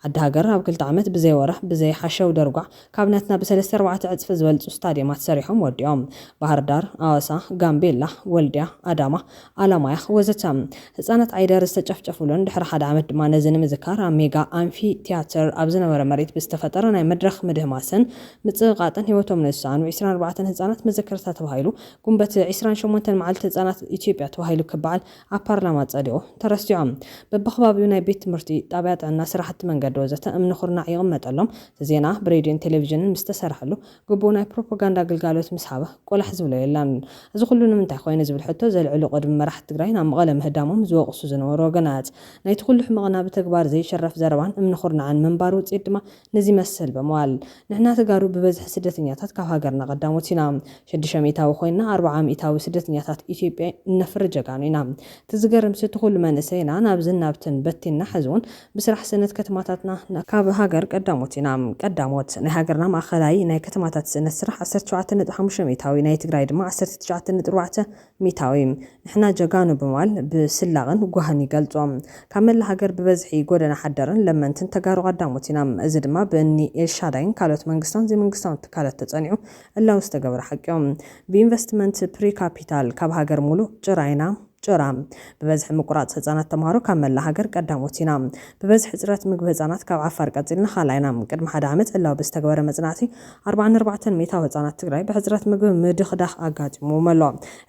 ዓዲ ሃገር ኣብ ክልተ ዓመት ብዘይ ወረ ብዘይ ሓሸውደርጓዕ፣ ካብ ናትና ብሰለስተ ኣርባዕተ ዕጽፊ ዝበልጹ ስታድየማት ሰሪሖም ወዲኦም። ባህርዳር፣ ኣዋሳ፣ ጋምቤላ፣ ወልድያ፣ ኣዳማ፣ ኣላማያ ወዘተ። ህጻናት ዓይደር ዝተጨፍጨፉሉን ድሕሪ ሓደ ዓመት ድማ ነዚ ንምዝካር ኣብ ሜጋ ኣምፊ ትያትር ኣብ ዝነበረ መሬት ብዝተፈጠረ ናይ መድረኽ ምድህማስን ምጽቕቓጥን ህይወቶም ንዝሰኣኑ ዕስራን ኣርባዕተን ህጻናት መዘከርታ ተባሂሉ ጉንበት ዕስራን ሸሞንተን መዓልቲ ህጻናት ኢትዮጵያ ተባሂሉ ክበዓል ኣብ ፓርላማ ጸዲቑ ተረሲዖ። በብኸባቢኡ ናይ ቤት ትምህርቲ፣ ጣብያ ጥዕና፣ ስራሕቲ መንገዲ ወዘተ እምኒ ኩርናዕ ይቕመጠሎም፣ እቲ ዜና ብሬድዮን ቴሌቪዥንን ምስ ተሰርሐሉ፣ ግቡእ ናይ ፕሮፖጋንዳ ግልጋሎት ምስ ሃበ ቆላሕ ዝብሎ የለን። እዚ ኩሉ ንምንታይ ኾይነ ዝብል ሕቶ ዘልዕሉ ቅድሚ መራሕቲ ትግራይ ናብ መቐለ ምህዳሞም ዝወቕሱ ዝነበሩ ወገናት፣ ናይቲ ኩሉ ሕመቕና ብተግባር ዘይሽረፍ ዘረባን እምኒ ኩርናዕን ምንባር ውጽኢት ድማ ነዚ መሰል በመዋል ንሕና ተጋሩ ብበዝሒ ስደተኛታት ካብ ሃገርና ቀዳሞት ኢና። ሽዱሽተ ሚኢታዊ ኮይንና ኣርብዓ ሚኢታዊ ስደተኛታት ኢትዮጵያ እነፍሪ ጀጋኑ ኢና። እቲ ዝገርምሲ እቲ ኩሉ መንእሰይና ናብዝን ናብትን በቲንና ሕዝውን ብስራሕ ስእነት ከተማታትና ን። ካብ ሃገር ቀዳሞት ኢና። ቀዳሞት። ናይ ሃገርና ማእኸላይ ናይ ከተማታት ስእነት ስራሕ ዓሰርተ ሸውዓተ ነጥቢ ሓሙሽተ ሚኢታዊ፣ ናይ ትግራይ ድማ ዓሰርተ ትሽዓተ ነጥቢ ኣርባዕተ ሚታዊ ንሕና ጀጋኑ ብምባል ብስላቕን ጓህን ይገልጾ። ካብ መላእ ሃገር ብበዝሒ ጎደና ሓደርን ለመንትን ተጋሩ ቀዳሞት ኢና። እዚ ድማ ብእኒ ኤልሻዳይን ካልኦት መንግስታውን ዘይመንግስታውን ትካላት ተጸኒዑ ዕላዊ ዝተገበረ ሓቂዮ። ብኢንቨስትመንት ፕሪ ካፒታል ካብ ሃገር ሙሉእ ጭራ ኢና። ጭራ። ብበዝሒ ምቁራጽ ህጻናት ተምሃሮ ካብ መላእ ሃገር ቀዳሞት ኢና። ብበዝሒ ሕጽረት ምግቢ ህጻናት ካብ ዓፋር ቀጺልና ካልኣይ ኢና። ቅድሚ ሓደ ዓመት ዕላዊ ብዝተገበረ መጽናዕቲ ኣርብዓን ኣርባዕተን ሚእታዊ ህጻናት ትግራይ ብሕጽረት ምግቢ ምድኽዳኽ ኣጋጢምዎም ኣሎ።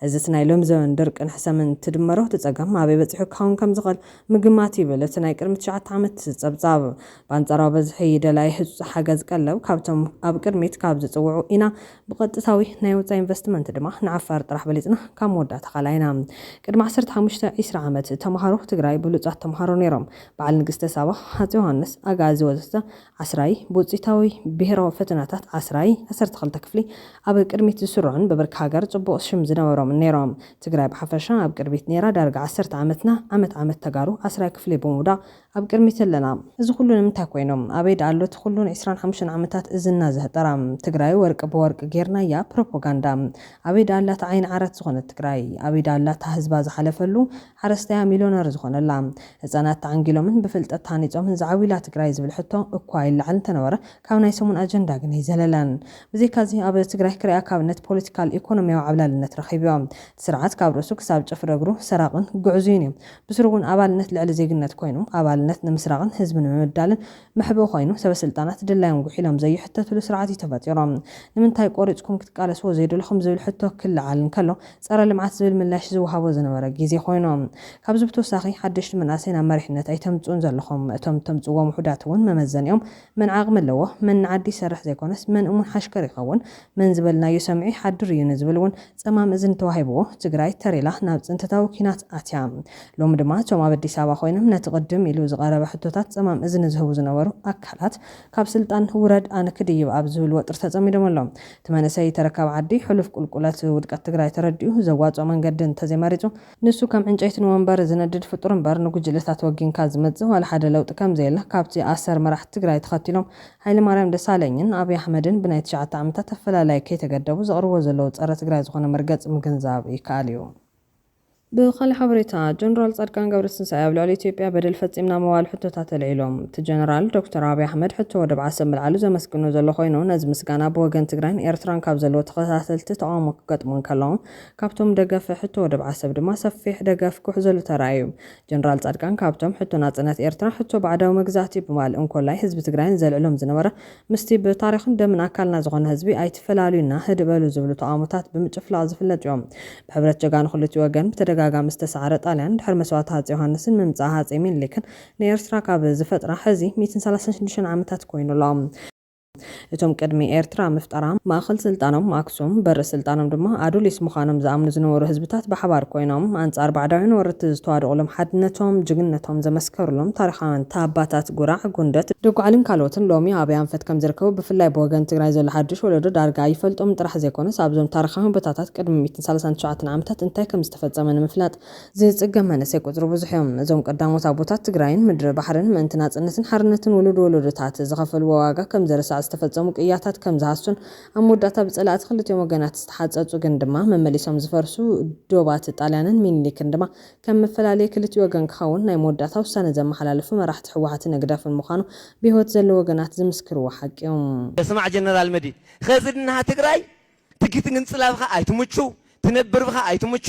እዚ እቲ ናይ ሎሚ ዘበን ድርቅን ሕሰምን ትድመሮ እቲ ጸገም ኣበይ በጺሑ ክኸውን ከም ዝኽእል ምግማት ይብል እቲ ናይ ቅድሚ ትሽዓተ ዓመት ጸብጻብ። ብኣንጻራዊ በዝሒ ደላዪ ህጹጽ ሓገዝ ቀለብ ካብቶም ኣብ ቅድሚት ካብ ዝጽውዑ ኢና። ብቐጥታዊ ናይ ወጻኢ ኢንቨስትመንት ድማ ንዓፋር ጥራሕ በሊጽና ካብ መወዳእታ ካልኣይ ኢና። ቅድሚ ዓሰርተ ሓሙሽተ፣ ዒስራ ዓመት ተመሃሮ ትግራይ ብሉጻት ተመሃሮ ነይሮም። በዓል ንግስተ ሳባ፣ ሃጸይ ዮሃንስ፣ ኣግኣዚ ወዘተ ዓስራይ፣ ብውጽኢታዊ ብሄራዊ ፈተናታት ዓስራይ ዓሰርተ ክልተ ክፍሊ ኣብ ቅድሚት ዝስርዑን ብብርኪ ሃገር ጽቡቕ ሽም ዝነበሮምን ነይሮም። ትግራይ ብሓፈሻ ኣብ ቅድሚት ነይራ፣ ዳርጋ ዓሰርተ ዓመትና ዓመት ዓመት ተጋሩ ዓስራይ ክፍሊ ብምውዳቕ ኣብ ቅድሚት ኣለና። እዚ ኩሉ ንምንታይ ኮይኑ? ኣበይ ድኣ ኣሎ እቲ ኩሉ ን ዕስራን ሓሙሽተን ዓመታት እዝንና ዘህጠራ ትግራይ ወርቂ ብወርቂ ጌርናያ ፕሮፖጋንዳ? ኣበይ ድኣ ኣላ እታ ዓይኒ ዓራት ዝኾነት ትግራይ? ኣበይ ድኣ ኣላ እታ ህዝባ ዝሓለፈሉ ሓረስታያ ሚልዮነር ዝኾነላ፣ ህጻናት ተዓንጊሎምን ብፍልጠት ተሃኒጾምን ዝዓብዩላ ትግራይ ዝብል ሕቶ እኳ ይለዓል እንተነበረ ካብ ናይ ሰሙን ኣጀንዳ ግን ኣይዘለለን። ብዘይካዚ ኣብ ትግራይ ክርኣ ካብ ነት ፖለቲካል ኢኮኖሚያዊ ዓብላልነት ረኺቡዮ። እቲ ስርዓት ካብ ርእሱ ክሳብ ጭፍሪ እግሩ ሰራቕን ግዕዙይን እዩ። ብስሩ'ውን ኣባልነት ልዕሊ ዜግነት ኮይኑ ኣባልነት ንምስራቕን ህዝቢ ንምብዳልን መሕብኢ ኮይኑ ሰበስልጣናት ድላዮም ጉሒሎም ዘይሕተትሉ ስርዓት እዩ ተፈጢሩ። ንምንታይ ቆሪፅኩም ክትቃለስዎ ዘይደለኹም ዝብል ሕቶ ክለዓል እንከሎ ፀረ ልምዓት ዝብል ምላሽ ዝወሃቦ ዝነበረ ግዜ ኮይኑ። ካብዚ ብተወሳኺ ሓደሽቲ መናእሰይ ናብ መሪሕነት ኣይተምፅኡን ዘለኹም። እቶም እተምፅእዎም ውሑዳት እውን መመዘኒኦም መን ዓቕሚ ኣለዎ፣ መን ንዓዲ ይሰርሕ ዘይኮነስ መን እሙን ሓሽከር ይኸውን፣ መን ዝበልናዩ ሰሚዑ ይሓድር እዩ ንዝብል እውን ፀማም እዝኒ ተዋሂብዎ ትግራይ ተር ኢላ ናብ ፅንተታዊ ኲናት ኣትያ። ሎሚ ድማ እቶም ኣብ ኣዲስ ኣበባ ኮይኖም ነቲ ቅድም ኢሉ ዝቐረበ ሕቶታት ፀማም እዝኒ ዝህቡ ዝነበሩ ኣካላት ካብ ስልጣን ውረድ ኣነ ክድይብ ኣብ ዝብል ወጥሪ ተፀሚዶም ኣለዉ። እቲ መንእሰይ ተረካቢ ዓዲ ሕሉፍ ቁልቁለት ውድቀት ትግራይ ተረዲኡ ዘዋፅኦ መንገዲ እንተዘይመሪፁ ንሱ ከም ዕንጨይቲ ንወንበር ዝነድድ ፍጡር እምበር ንጉጅለታት ወጊንካ ዝመጽእ ዋላ ሓደ ለውጢ ከምዘየለ ካብቲ ኣሰር መራሕቲ ትግራይ ተኸቲሎም ሃይለማርያም ደሳለኝን ኣብይ ኣሕመድን ብናይ ትሽዓተ ዓመታት ኣፈላላይ ከይተገደቡ ዘቕርብዎ ዘለዉ ጸረ ትግራይ ዝኾነ መርገጺ ምግንዛብ ይከኣል እዩ። ብኻሊእ ሓበሬታ፣ ጀነራል ጻድቃን ገብረትንሳኤ ኣብ ልዕሊ ኢትዮጵያ በደል ፈጺምና ምባል ሕቶታት ኣልዒሉ። እቲ ጀነራል፣ ዶክተር ኣብይ ኣሕመድ ሕቶ ወደብ ዓሰብ ምልዓሉ ዘመስግኖ ዘሎ ኮይኑ፣ ነዚ ምስጋና ብወገን ትግራይን ኤርትራን ካብ ዘለዎ ተኸታተልቲ ተቓውሞ ክገጥሞ እንከሎ፣ ካብቶም ደገፍ ሕቶ ወደብ ዓሰብ ድማ ሰፊሕ ደገፍ ክውሕዘሉ ተራእዩ። ጀነራል ጻድቃን ካብቶም ሕቶ ናጽነት ኤርትራ፣ ሕቶ ባዕዳዊ መግዛእቲ ብማል እንኮላይ ህዝቢ ትግራይን ዘልዕሎም ዝነበረ ምስቲ ብታሪኽን ደምን ኣካልና ዝኾነ ህዝቢ ኣይትፈላልዩና ህድእ በሉ ዝብሉ ተቓውሞታት ብምጭፍላቕ ዝፍለጥዮ። ብሕብረት ጀጋኑ ክልቲኡ ወገን ብተደጋጋሚ ዝተሳዕረ ጣልያን ድሕሪ መስዋእቲ ሃጼ ዮሃንስን ምምጻእ ሃጼ ሚኒሊክን ንኤርትራ ካብ ዝፈጥራ ሕዚ ሚእትን ሰላሳን ሽዱሽተን ዓመታት ኮይኑሎ። እቶም ቅድሚ ኤርትራ ምፍጣራ ማእከል ስልጣኖም ኣክሱም፣ በሪ ስልጣኖም ድማ ኣዱሊስ ምዃኖም ዝኣምኑ ዝነበሩ ህዝብታት ብሓባር ኮይኖም ኣንጻር ባዕዳውያን ወረርቲ ዝተዋደቑሎም ሓድነቶም ጅግንነቶም ዘመስከሩሎም ታሪኻውያን ታባታት ጉራዕ፣ ጉንደት፣ ደጉዓሊን ካልኦትን ሎሚ ኣበይ ኣንፈት ከም ዝርከቡ ብፍላይ ብወገን ትግራይ ዘሎ ሓድሽ ወለዶ ዳርጋ ኣይፈልጦምን ጥራሕ ዘይኮነስ ኣብዞም ታሪኻውያን ቦታታት ቅድሚ ሚእትን ሳላሳን ትሽዓተን ዓመታት እንታይ ከም ዝተፈጸመ ንምፍላጥ ዝፅገም መንእሰይ ቁፅሩ ብዙሕ ዩ። እዞም ቀዳሞት ኣቦታት ትግራይን ምድሪ ባሕርን ምእንቲ ናፅነትን ሓርነትን ውሉድ ወለዶታት ዝኸፈልዎ ዋጋ ከም ዝርሳዕ ዝተፈፀሙ ቅያታት ከም ዝሃሱን ኣብ መወዳእታ ብፀላእቲ ክልቲኦም ወገናት ዝተሓፀፁ ግን ድማ መመሊሶም ዝፈርሱ ዶባት ጣልያንን ሚኒሊክን ድማ ከም መፈላለዪ ክልቲኡ ወገን ክኸውን ናይ መወዳእታ ውሳነ ዘመሓላለፉ መራሕቲ ህወሓትን ህግደፍን ምዃኑ ብሂወት ዘለዉ ወገናት ዝምስክርዎ ሓቂ ዩ። ስማዕ ጀነራል
መዲድ ኸዚ ድንሃ ትግራይ ትግትግንፅላብኻ ኣይትምቹ ትነብርብኻ ኣይትምቹ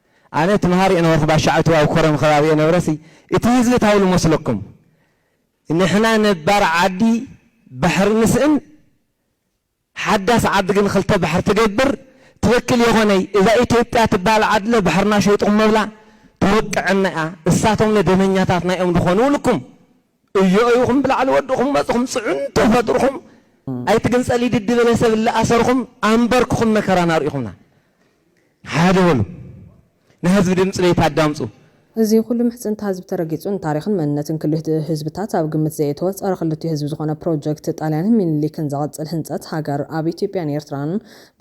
ኣነ እቲ መሃሪ የነበርኩ ባሻዕቱ ኣብ ኮረም ከባቢ የነብረሲ እቲ ህዝቢ ታይ ልመስለኩም ንሕና ነባር ዓዲ ባሕሪ ንስእን ሓዳስ ዓዲ ግን ክልተ ባሕሪ ትገብር ትክክል የኮነይ እዛ ኢትዮጵያ ትባሃል ዓድለ ባሕርና ሸይጥኩም መብላ ትወቅዐና እያ እሳቶምለ ደመኛታት ናይኦም ድኮኑ ልኩም እዮ ኢኹም ብላዕሊ ወድኹም መጽኹም ጽዕንቶ ፈጥርኹም ኣይትግንጸል ይድዲ በለ ሰብ እለ ኣሰርኹም ኣንበርክኹም መከራን ኣርኢኹምና ሓደ በሉ ንሀዝቢ ድምጽ ቤት ኣዳምጹ። እዚ ኩሉ
ምሕጽንታ ህዝቢ ተረጊጹ ንታሪኽን መንነትን ክልቲኡ ህዝብታት ኣብ ግምት ዘየእተወ ጸረ ክልቲኡ ህዝቢ ዝኾነ ፕሮጀክት ጣልያንን ሚኒሊክን ዘቐጽል ህንጸት ሃገር ኣብ ኢትዮጵያን ኤርትራን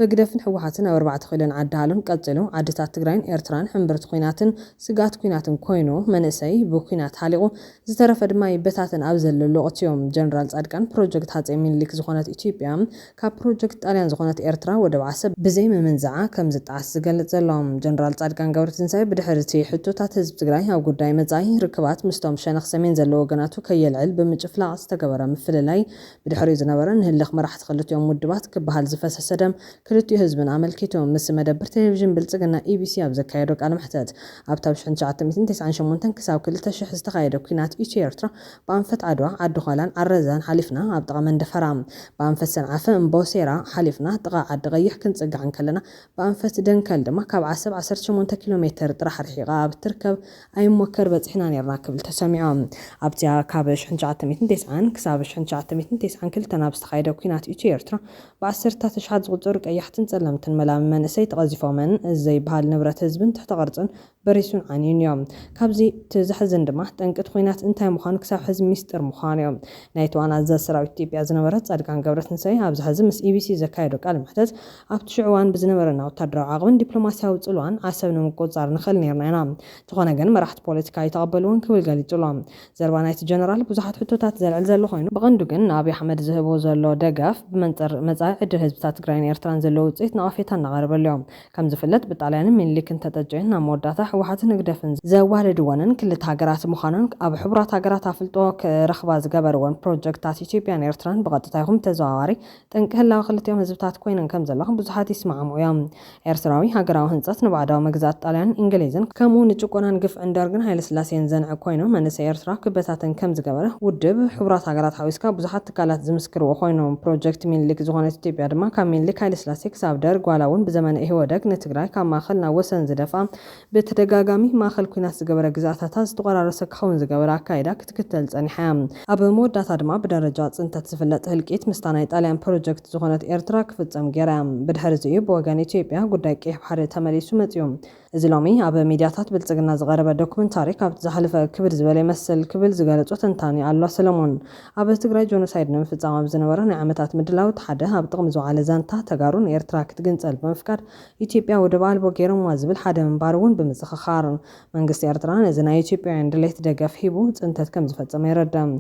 በግደፍን ህወሓትን ኣብ ኣርባዕተ ክኢሎን ዓዲ ሃሎን ቀጺሉ ዓድታት ትግራይን ኤርትራን ሕምብርቲ ኩናትን ስግኣት ኩናትን ኮይኑ መንእሰይ ብኩናት ሃሊቑ ዝተረፈ ድማ ይበታተን ኣብ ዘለሉ ኣቕጽዮ። ጀነራል ጻድቃን ፕሮጀክት ሃጸይ ሚኒሊክ ዝኾነት ኢትዮጵያ ካብ ፕሮጀክት ጣልያን ዝኾነት ኤርትራ ወደብ ዓሰብ ብዘይምምንዛዓ ከም ዝጠዓስ ዝገልጽ ዘሎ ጀነራል ጻድቃን ገብረትንሳኤ ብድሕሪ'ቲ ሕቶታት ህዝቢ ትግራይ ኣብ ጉዳይ መጻኢ ርክባት ምስቶም ሸነኽ ሰሜን ዘለዉ ወገናቱ ከየልዕል ብምጭፍላቕ ዝተገበረ ምፍልላይ ብድሕሪኡ ዝነበረ ንህልኽ መራሕቲ ክልቲኦም ውድባት ክበሃል ዝፈሰሰ ደም ክልቲኡ ህዝብን ኣመልኪቱ ምስ መደብር ቴሌቪዥን ብልጽግና ኢቢሲ ኣብ ዘካየዶ ቃለ መሕተት፣ ኣብቲ ኣብ ሽሕን ትሽዓተ ሚእትን ተስዓን ሸሞንተን ክሳብ ክልተ ሽሕ ዝተኻየደ ኲናት ኢትዮ ኤርትራ ብኣንፈት ዓድዋ፣ ዓዲ ዃላን ዓረዛን ሓሊፍና ኣብ ጥቓ መንደፈራ፣ ብኣንፈት ሰንዓፈ፣ እምቦሴራ፣ ሓሊፍና ጥቓ ዓዲ ቐይሕ ክንጽጋዕ እንከለና ብኣንፈት ደንከል ድማ ካብ ዓሰብ ዓሰርተ ሸሞንተ ኪሎ ሜተር ጥራሕ ርሒቓ ኣብ እትርከብ ኣይሞከር በጺሕና ኔርና ክብል ተሰሚዑ። ኣብቲ ካብ ሽሕን ትሽዓተ ሚእትን ተስዓን ክሳብ ሽሕን ትሽዓተ ሚእትን ተስዓን ክልተን ኣብ ዝተኻየደ ኲናት ኢትዮ ኤርትራ ብኣሰርታት ኣሽሓት ዝቑጸሩ ቀያሕትን ጸለምትን መላሚ መንእሰይ ተቐዚፎምን፣ እዚ ዘይብሃል ንብረት ህዝብን ትሕተ ቅርጽን በሪሱን ዓንዩን ኢዮ። ካብዚ እቲ ዘሕዝን ድማ ጠንቂ እቲ ኹናት እንታይ ምዃኑ ክሳብ ሕዚ ሚስጢር ምዃኑ ኢዮ። ናይ እቲ ዋና ኣዛዚ ሰራዊት ኢትዮጵያ ዝነበረ ጻድቃን ገብረትንሳኤ ኣብዚ ሕዚ ምስ ኢቢሲ ዘካየዶ ቃለ መሕተት ኣብቲ ሽዑ እዋን ብዝነበረና ወታደራዊ ዓቕምን ዲፕሎማሲያዊ ጽልዋን ዓሰብ ንምቁጽጻር ንኽእል ኔርና ኢና። እንተኾነ ግን መራሕቲ ፖለቲካ ኣይተቐበልዎን ክብል ገሊጹ ኣሎ። ዘረባ ናይቲ ጀነራል ብዙሓት ሕቶታት ዘልዕል ዘሎ ኮይኑ፣ ብቐንዱ ግን ንኣብይ ኣሕመድ ዝህቦ ዘሎ ደገፍ ብመንፅር መፃኢ ዕድል ህዝብታት ትግራይን ኤርትራን ዘለዎ ውፅኢት ነቐፌታ እናቐረበሉዮ። ከምዝፍለጥ ብጣልያንን ሚኒሊክን ተጠጅየን ናብ መወዳእታ ህወሓትን ህግደፍን ዘዋደድወንን ክልተ ሃገራት ምዃነን ኣብ ሕቡራት ሃገራት ኣፍልጦ ክረኽባ ዝገበርወን ፕሮጀክትታት ኢትዮጵያን ኤርትራን ብቐጥታ ይኹን ብተዘዋዋሪ ጠንቂ ህላወ ክልቲኦም ህዝብታት ኮይነን ከም ዘለኹ ብዙሓት ይስማዕምዑ እዮም። ኤርትራዊ ሃገራዊ ህንጸት ንባዕዳዊ መግዛእቲ ጣልያንን ኢንግሊዝን ከምኡ ንጭቆናን ግፍዕን ደርግን ሃይለስላሴን ዘንዕቅ ኮይኑ መንእሰይ ኤርትራ ክበታተን ከም ዝገበረ ውድብ ሕቡራት ሃገራት ሓዊስካ ብዙሓት ትካላት ዝምስክርዎ ኮይኑ ፕሮጀክት ሚንሊክ ዝኾነት ኢትዮጵያ ድማ ካብ ሚንሊክ ሃይለስላሴ ክሳብ ደርግ ዋላ እውን ብዘመነ ኢህወደግ ንትግራይ ካብ ማእኸል ናብ ወሰን ዝደፍኣ ብተደጋጋሚ ማእኸል ኲናት ዝገበረ ግዝኣታታ ዝተቖራረሰ ክኸውን ዝገበረ ኣካይዳ ክትክተል ፀኒሓ እያ። ኣብ መወዳእታ ድማ ብደረጃ ፅንተት ዝፍለጥ ህልቂት ምስታ ናይ ጣልያን ፕሮጀክት ዝኾነት ኤርትራ ክፍፀም ገይራ እያ። ብድሕሪ እዚ እዩ ብወገን ኢትዮጵያ ጉዳይ ቀይሕ ባሕሪ ተመሊሱ መፂኡ። እዚ ሎሚ ኣብ ሚድያታት ብልፅግና ዝቐረበ ዶክመንታሪ ካብቲ ዝሓለፈ ክብድ ዝበለ ይመስል ክብል ዝገለፆ ተንታኒ ኣሉላ ሰለሞን ኣብ ትግራይ ጆኖሳይድ ንምፍፃም ኣብ ዝነበረ ናይ ዓመታት ምድላው እቲ ሓደ ኣብ ጥቕሚ ዝወዓለ ዛንታ ተጋሩ ንኤርትራ ክትግንፀል ብምፍቃድ ኢትዮጵያ ወደብ ኣልቦ ገይሮምዋ ዝብል ሓደ ምንባሩ እውን ብምዝኽኻር፣ መንግስቲ ኤርትራ ነዚ ናይ ኢትዮጵያውያን ድሌት ደገፍ ሂቡ ፅንተት ከምዝፈፀመ የረድእ።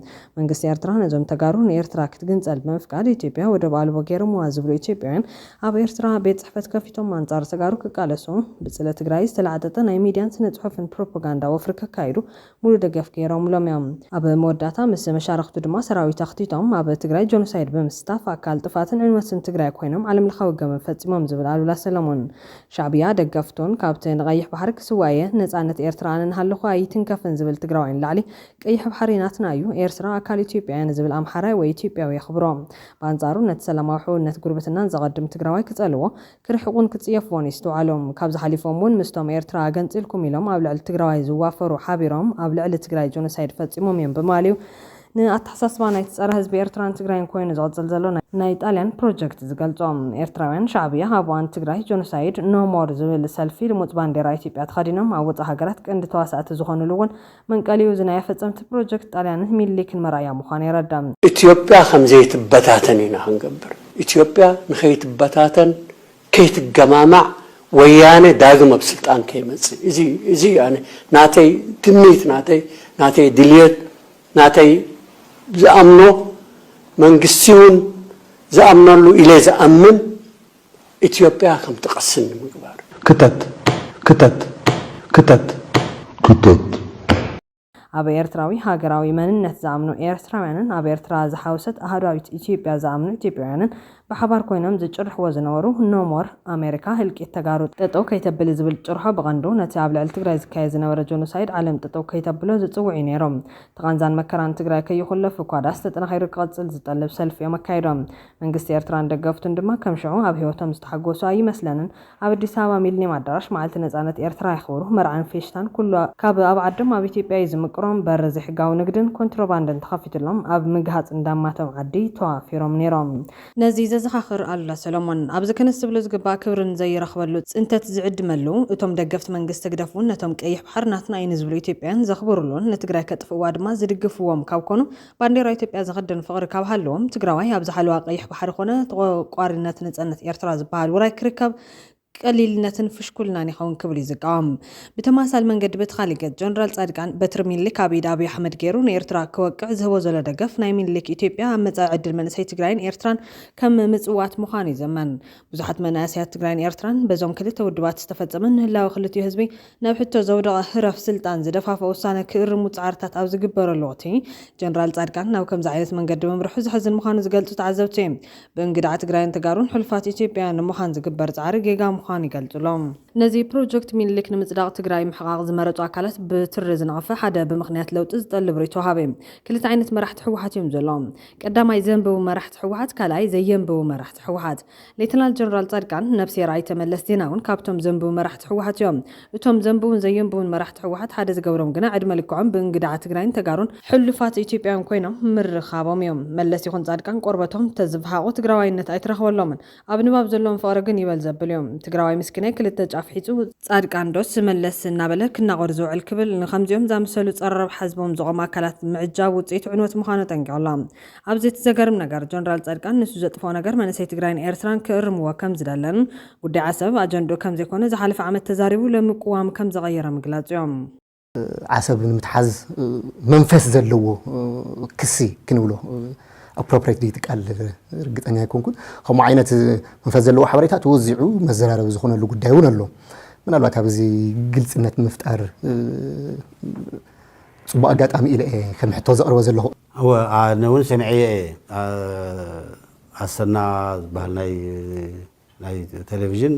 መንግስቲ ኤርትራ ነዞም ተጋሩ ንኤርትራ ክትግንፀል ብምፍቃድ ኢትዮጵያ ወደብ ኣልቦ ገይሮምዋ ዝብሉ ኢትዮጵያውያን ኣብ ኤርትራ ቤት ፅሕፈት ከፊቶም ኣንፃር ተጋሩ ክቃለሱ ብፅለ ትግራይ ዝተላዕጠጠ ናይ ሚድያን ስነ ፅሑፍን ፕሮፖጋንዳ ወፍሪ ከካይዱ ሙሉ ደገፍ ገይሮምሎም እዮም። ኣብ መወዳእታ ምስ መሻርኽቱ ድማ ሰራዊት ኣኽቲቶም ኣብ ትግራይ ጆኖሳይድ ብምስታፍ ኣካል ጥፍኣትን ዕንወትን ትግራይ ኮይኖም ዓለምለኻዊ ገበን ፈፂሞም ዝብል ኣሉላ ሰለሙን ሻዕብያ ደገፍቱን ካብቲ ንቀይሕ ባሕሪ ክስዋእ እየ ነፃነት ኤርትራ ኣነ እናሃለኹ ኣይትንከፍን ዝብል ትግራዋይ ንላዕሊ ቀይሕ ባሕሪ ናትና እዩ ኤርትራ ኣካል ኢትዮጵያ እያ ንዝብል ኣምሓራይ ወይ ኢትዮጵያዊ የኽብሮ ብኣንፃሩ ነቲ ሰላማዊ ሕውነት ጉርብትናን ዘቐድም ትግራዋይ ክፀልዎ ክርሕቁን ክጽየፍዎን ይስትውዓሉ። ካብዚ ሓሊፎም ውን ምስቶም ኤርትራ ኣገንጺልኩም ኢሎም ኣብ ልዕሊ ትግራዋይ ዝዋፈሩ ሓቢሮም ኣብ ልዕሊ ትግራይ ጆኖሳይድ ፈጺሞም እዮም ብማል እዩ ንኣተሓሳስባ ናይቲ ጸረ ህዝቢ ኤርትራን ትግራይን ኮይኑ ዝቕጽል ዘሎ ናይ ጣልያን ፕሮጀክት ዝገልጾ። ኤርትራውያን ሻዕብያ ኣብ እዋን ትግራይ ጆኖሳይድ ኖ ሞር ዝብል ሰልፊ ልሙጽ ባንዴራ ኢትዮጵያ ተኸዲኖም ኣብ ወጻእ ሃገራት ቀንዲ ተዋሳእቲ ዝኾኑሉ ውን መንቀሊኡ እዚ ናይ ኣፈፀምቲ ፕሮጀክት ጣልያንን ሚኒሊክን መርኣያ ምዃኑ የረዳ። ኢትዮጵያ
ከምዘይትበታተን ኢና ክንገብር። ኢትዮጵያ ንከይትበታተን ከይትገማማዕ ወያነ ዳግም ኣብ ስልጣን ከይመፅእ እዚ እዚ እዩ ኣነ ናተይ ትምኒት ናተይ ናተይ ድልየት ናተይ ዝኣምኖ መንግስቲ እውን ዝኣምነሉ ኢለ ዝኣምን ኢትዮጵያ ከምትቐስን ንምግባር። ክተት! ክተት! ክተት!
ክተት!
ኣብ ኤርትራዊ ሃገራዊ መንነት ዝኣምኑ ኤርትራውያንን ኣብ ኤርትራ ዝሓወሰት ኣህዷዊት ኢትዮጵያ ዝኣምኑ ኢትዮጵያውያንን ብሓባር ኮይኖም ዝጭርሕዎ ዝነበሩ No More America ህልቂት ተጋሩ ጠጠው ከይተብል ዝብል ጭርሖ ብቐንዱ ነቲ ኣብ ልዕሊ ትግራይ ዝካየድ ዝነበረ ጆኖሳይድ ዓለም ጠጠው ከይተብሎ ዝጽውዕ እዩ ነይሩ። እቲ ቓንዛን መከራን ትግራይ ከይኹለፍ እኳ ድኣስ ተጠናኺሩ ክቕጽል ዝጠልብ ሰልፊ እዮም ኣካይዶም። መንግስቲ ኤርትራን ደገፍቱን ድማ ከም ሽዑ ኣብ ህይወቶም ዝተሓጎሱ ኣይመስለንን። ኣብ ኣዲስ ኣበባ ሚልኒየም ኣዳራሽ መዓልቲ ነጻነት ኤርትራ የኽብሩ። መርዓን ፌሽታን ኩሉ ካብ ኣብ ዓዶም ኣብ ኢትዮጵያ እዩ ዝምቅሮም። በሪ ዘይሕጋዊ ንግድን ኮንትሮባንድን ተኸፊቱሎም ኣብ ምግሃጽ እንዳማቶም ዓዲ ተዋፊሮም ነይሮም። ነዚ ዘዘኻኽር ኣሉላ ሰለሞን ኣብዚ ክንስትብሉ ዝግባእ ክብርን ዘይረኽበሉ ጽንተት ዝዕድመሉ፣ እቶም ደገፍቲ መንግስቲ ህግደፍ እውን ነቶም ቀይሕ ባሕሪ ናትና እዩ ንዝብሉ ኢትዮጵያውያን ዘኽብሩሉን ንትግራይ ከጥፍእዋ ድማ ዝድግፍዎም ካብ ኮኑ ባንዴራ ኢትዮጵያ ዝኽድን ፍቕሪ ካብ ሃለዎም ትግራዋይ ኣብዛ ሓለዋ ቀይሕ ባሕሪ ኮነ ተቖርቋሪነት ነጸነት ኤርትራ ዝበሃል ውራይ ክርከብ ቀሊልነትን ፍሽኩልናን ይኸውን ክብል እዩ ዝቃወም። ብተመሳሳሊ መንገዲ በቲ ካሊእ ገጽ ጀነራል ጻድቃን በትሪ ሚኒሊክ ኣብ ኢድ ኣብይ ኣሕመድ ገይሩ ንኤርትራ ክወቅዕ ዝህቦ ዘሎ ደገፍ ናይ ሚኒሊክ ኢትዮጵያ ኣብ መጻኢ ዕድል መንእሰይ ትግራይን ኤርትራን ከም ምጽዋት ምዃኑ ይዘመን። ብዙሓት መናእሰያት ትግራይን ኤርትራን በዞም ክልተ ውድባት ዝተፈጸመ ንህላወ ክልቲኡ ህዝቢ ናብ ሕቶ ዘውደቐ ህረፍ ስልጣን ዝደፋፍእ ውሳነ ክእርሙ ጻዕርታት ኣብ ዝግበረሉ ወቕቲ፣ ጀነራል ጻድቃን ናብ ከምዚ ዓይነት መንገዲ ምምርሑ ዘሕዝን ምዃኑ ዝገልጹ ተዓዘብቲ፣ ብእንግድዓ ትግራይን ተጋሩን ሕሉፋት ኢትዮጵያውያን ንምዃን ዝግበር ጻዕሪ ጌጋ ምዃኑ ይገልጹ'ሎ። ነዚ ፕሮጀክት ሚኒሊክ ንምጽዳቕ ትግራይ ምሕቓቕ ዝመረጹ ኣካላት ብትሪ ዝነቐፈ ሓደ ብምኽንያት ለውጢ ዝጠልብ ርኢቶ ወሃቢ ክልተ ዓይነት መራሕቲ ህወሓት እዮም ዘለዉ። ቀዳማይ ዘንብቡ መራሕቲ ህወሓት ካልኣይ ዘየንብቡ መራሕቲ ህወሓት። ሌተናል ጀነራል ፃድቃን ነብስሄር ኣይተ መለስ ዜናውን ካብቶም ዘንብቡ መራሕቲ ህወሓት እዮም። እቶም ዘንብቡን ዘየንብቡን መራሕቲ ህወሓት ሓደ ዝገብሮም ግና ዕድመ ልክዖም ብእንግድዓ ትግራይን ተጋሩን ሕሉፋት ኢትዮጵያውያን ኮይኖም ምርኻቦም እዩ። መለስ ይኹን ፃድቃን ቆርበቶም ተዝፍሓቑ ትግራዋይነት ኣይትረኽበሎምን። ኣብ ንባብ ዘለዎም ፍቕሪ ግን ይበል ዘብል እዩ። ትግራዋይ ምስኪናይ ክልተ ጫፍ ሒዙ፣ ፃድቃን ዶስ መለስ እናበለ ክናቖር ዝውዕል ክብል ንኸምዚኦም ዝኣመሰሉ ፀረ ረብሓ ህዝቦም ዝቖሙ ኣካላት ምዕጃብ ውፅኢቱ ዕንወት ምዃኑ ኣጠንቂቑ ኣሎ። ኣብዚ እቲ ዘገርም ነገር ጀነራል ፃድቃን ንሱ ዘጥፈኦ ነገር መንእሰይ ትግራይን ኤርትራን ክእርምዎ ከምዝደለን ጉዳይ ዓሰብ ኣጀንድኡ ከምዘይኮነ ዝሓለፈ ዓመት ተዛሪቡ ሎሚ ቅዋም ከምዘቐየረ ምግላፅ እዩ። ዓሰብ
ንምትሓዝ መንፈስ ዘለዎ ክሲ ክንብሎ ኣፕሮፕሬት ድዩ እቲ ቃል ርግፀኛ ኣይኮንኩን። ከምኡ ዓይነት መንፈስ ዘለዎ ሓበሬታ ተወዚዑ መዘራረቢ ዝኾነሉ ጉዳይ እውን ኣሎ። ምናልባት ኣብ እዚ ግልፅነት ንምፍጣር ፅቡቕ ኣጋጣሚ ኢለ እየ ከም ሕቶ ዘቕርቦ ዘለኹ። እወ ኣነ ውን
ሰሚዐዮ እየ ኣሰና ዝባሃል ናይ ቴሌቭዥን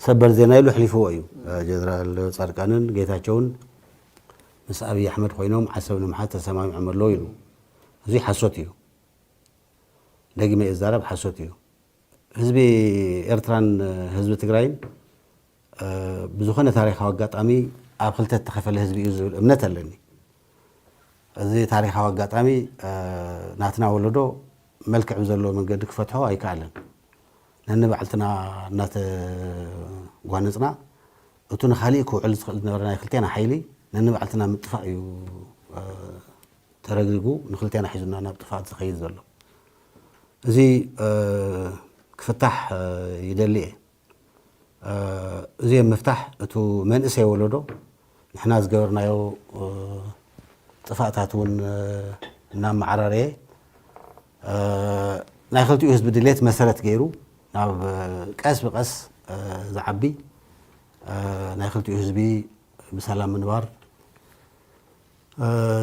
ሰበር ዜና ኢሉ ኣሕሊፍዎ እዩ ጀነራል ፃድቃንን ጌታቸውን ምስ ኣብይ ኣሕመድ ኮይኖም ዓሰብ ንምሓዝ ተሰማሚዖም ኣለው ኢሉ እዙይ ሓሶት እዩ ደጊመ እዛረብ ሓሶት እዩ ህዝቢ ኤርትራን ህዝቢ ትግራይን ብዝኾነ ታሪኻዊ ኣጋጣሚ ኣብ ክልተ ዝተኸፈለ ህዝቢ እዩ ዝብል እምነት ኣለኒ እዚ ታሪኻዊ ኣጋጣሚ ናትና ወለዶ መልክዕ ብዘለዎ መንገዲ ክፈትሖ ኣይከኣለን። ነንባዕልትና እናተጓነጽና እቱ ንኻሊእ ክውዕል ዝኽእል ዝነበረ ናይ ክልቴና ሓይሊ ነንባዕልትና ምጥፋእ እዩ ተረግሪጉ ንክልቴና ሒዙና ናብ ጥፍኣት ዝኸይድ ዘሎ። እዚ ክፍታሕ ይደሊ እየ። እዚ ኣብ ምፍታሕ እቱ መንእሰይ ወለዶ ንሕና ዝገበርናዮ ጥፋእታት እውን እናመዓራረየ ናይ ክልቲኡ ህዝቢ ድሌት መሰረት ገይሩ ናብ ቀስ ብቀስ ዝዓቢ ናይ ክልቲኡ ህዝቢ ብሰላም ምንባር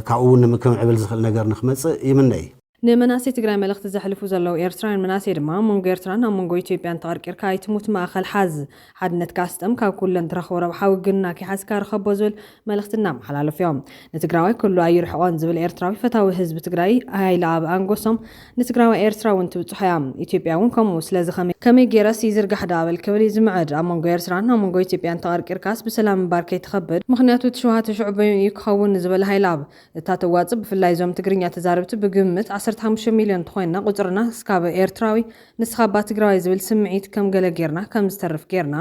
ካብኡ እውን ንምክምዕብል ዝኽእል ነገር ንክመፅእ ይምነ እዩ። ንመናእሰይ ትግራይ መልእኽቲ
ዘሕልፉ ዘለዉ ኤርትራውያን መናእሰይ ድማ ኣብ መንጎ ኤርትራን ኣብ መንጎ ኢትዮጵያን ተቐርቂርካ ኣይትሙት ማእኸል ሓዝ ሓድነትካ ስጠም ካብ ኩሉ እንትረኽቦ ረብሓ ውግንና ከይሓዝካ ርኸቦ ዝብል መልእኽቲ እናመሓላለፉ ዮም። ንትግራዋይ ኩሉ ኣይርሕቖን ዝብል ኤርትራዊ ፈታዊ ህዝቢ ትግራይ ሃይለኣብ ኣንጎሶም ንትግራዋይ ኤርትራ ውን ትብፅሖ ያ ኢትዮጵያ ውን ከምኡ ስለዚ ከመይ ከመይ ገይረስ ይዝርጋሕ ደኣ በል ክብል ዩ ዝምዕድ ኣብ መንጎ ኤርትራን ኣብ መንጎ ኢትዮጵያን ተቐርቂርካስ ብሰላም ምንባር ከይትኸብድ ምኽንያቱ እቲ ሸውሃት ሽዑ በይኑ ዩ ክኸውን ንዝበለ ሃይለኣብ እታ ተዋጽእ ብፍላይ እዞም ትግርኛ ተዛረብቲ ብግምት ዓሰርተ ሓሙሽተ ሚልዮን ተኾይንና ቁጽርና እስካብ ኤርትራዊ ንስኻ እባ ትግራዋይ ዝብል ስምዒት ከም ገለ ጌርና ከም ዝተርፍ ጌርና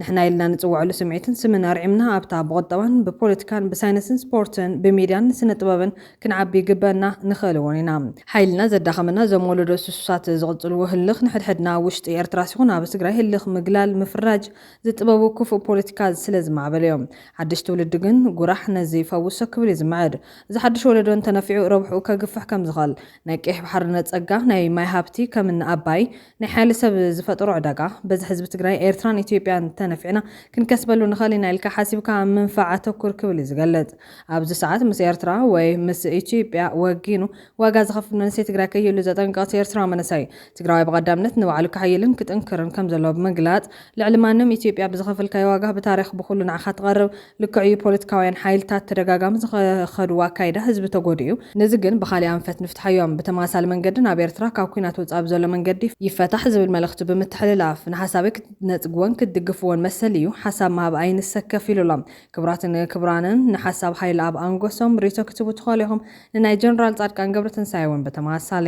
ንሕና ኢልና ንጽውዐሉ ስምዒትን ስምን ኣርዒምና ኣብታ ብቁጠባን ብፖለቲካን ብሳይነስን ስፖርትን ብሚድያን ስነ ጥበብን ክንዓቢ ይግበእና ንኽእል እውን ኢና ሓይልና ዘዳኸመና እዞም ወለዶ ስሱሳት ዝቕጽልዎ ህልኽ ንሕድሕድና ኣብ ውሽጢ ኤርትራስ ይኹን ኣብ ትግራይ ህልኽ ምግላል ምፍራጅ ዝጥበቡ ክፉእ ፖለቲካ ስለ ዝማዕበለዮ። ሓድሽ ትውልዲ ግን ጉራሕ ነዚ ይፈውሶ ክብል እዩ ዝምዕድ። እዚ ሓድሽ ወለዶ እንተነፊዑ ረብሕኡ ከግፍሕ ከም ዝኽእል። ናይ ቀይሕ ባሕርነት ጸጋ፣ ናይ ማይ ሃብቲ ከም እኒ ኣባይ፣ ናይ ሓይሊ ሰብ ዝፈጠሮ ዕዳጋ፣ በዚ ሕዝቢ ትግራይ፣ ኤርትራን ኢትዮጵያን እንተነፊዕና ክንከስበሉ ንኽእል ኢና ኢልካ ሓሲብካ ኣብ ምንፋዕ ኣተኩር ክብል እዩ ዝገልጽ። ኣብዚ ሰዓት ምስ ኤርትራ ወይ ምስ ኢትዮጵያ ወጊኑ ዋጋ ዝኸፍል መንእሰይ ትግራይ ከይህሉ ዘጠንቀቐ እቲ ኤርትራዊ መንእሰይ፣ ትግራዋይ ብቐዳምነት ንባዕሉ ከሐይልን ክጥንክርን ከም ዘለዎ ብምግላጽ፣ ልዕሊ ማንም ኢትዮጵያ ብዝኸፈልካዮ ዋጋ ብታሪኽ ብኹሉ ንዓኻ ትቐርብ ልክዕ እዩ ፖለቲካውያን ሓይልታት ተደጋጋሚ ዝኸኸድዎ ኣካይዳ ህዝቢ ተጎዲኡ እዩ ነዚ ግን ብኻሊእ ኣንፈት ንፍትሓዮ ብተመሳሳሊ መንገዲ ናብ ኤርትራ ካብ ኩናት ወጻኢ ብዘሎ መንገዲ ይፈታሕ ዝብል መልእኽቲ ብምትሕልላፍ ንሓሳበይ ክትነጽግዎን ክትድግፍዎን መሰል እዩ ሓሳብ ምሃብ ኣይንሰከፍ ኢሉ ኣሎ ክብራትን ክብራንን ንሓሳብ ሃይልኣብ ኣንጎሶም ሪቶ ክትህቡ ትኸእሉ ኢኹም ንናይ ጀነራል ጻድቃን ገብረትንሳኤ ውን ብተመሳሳሊ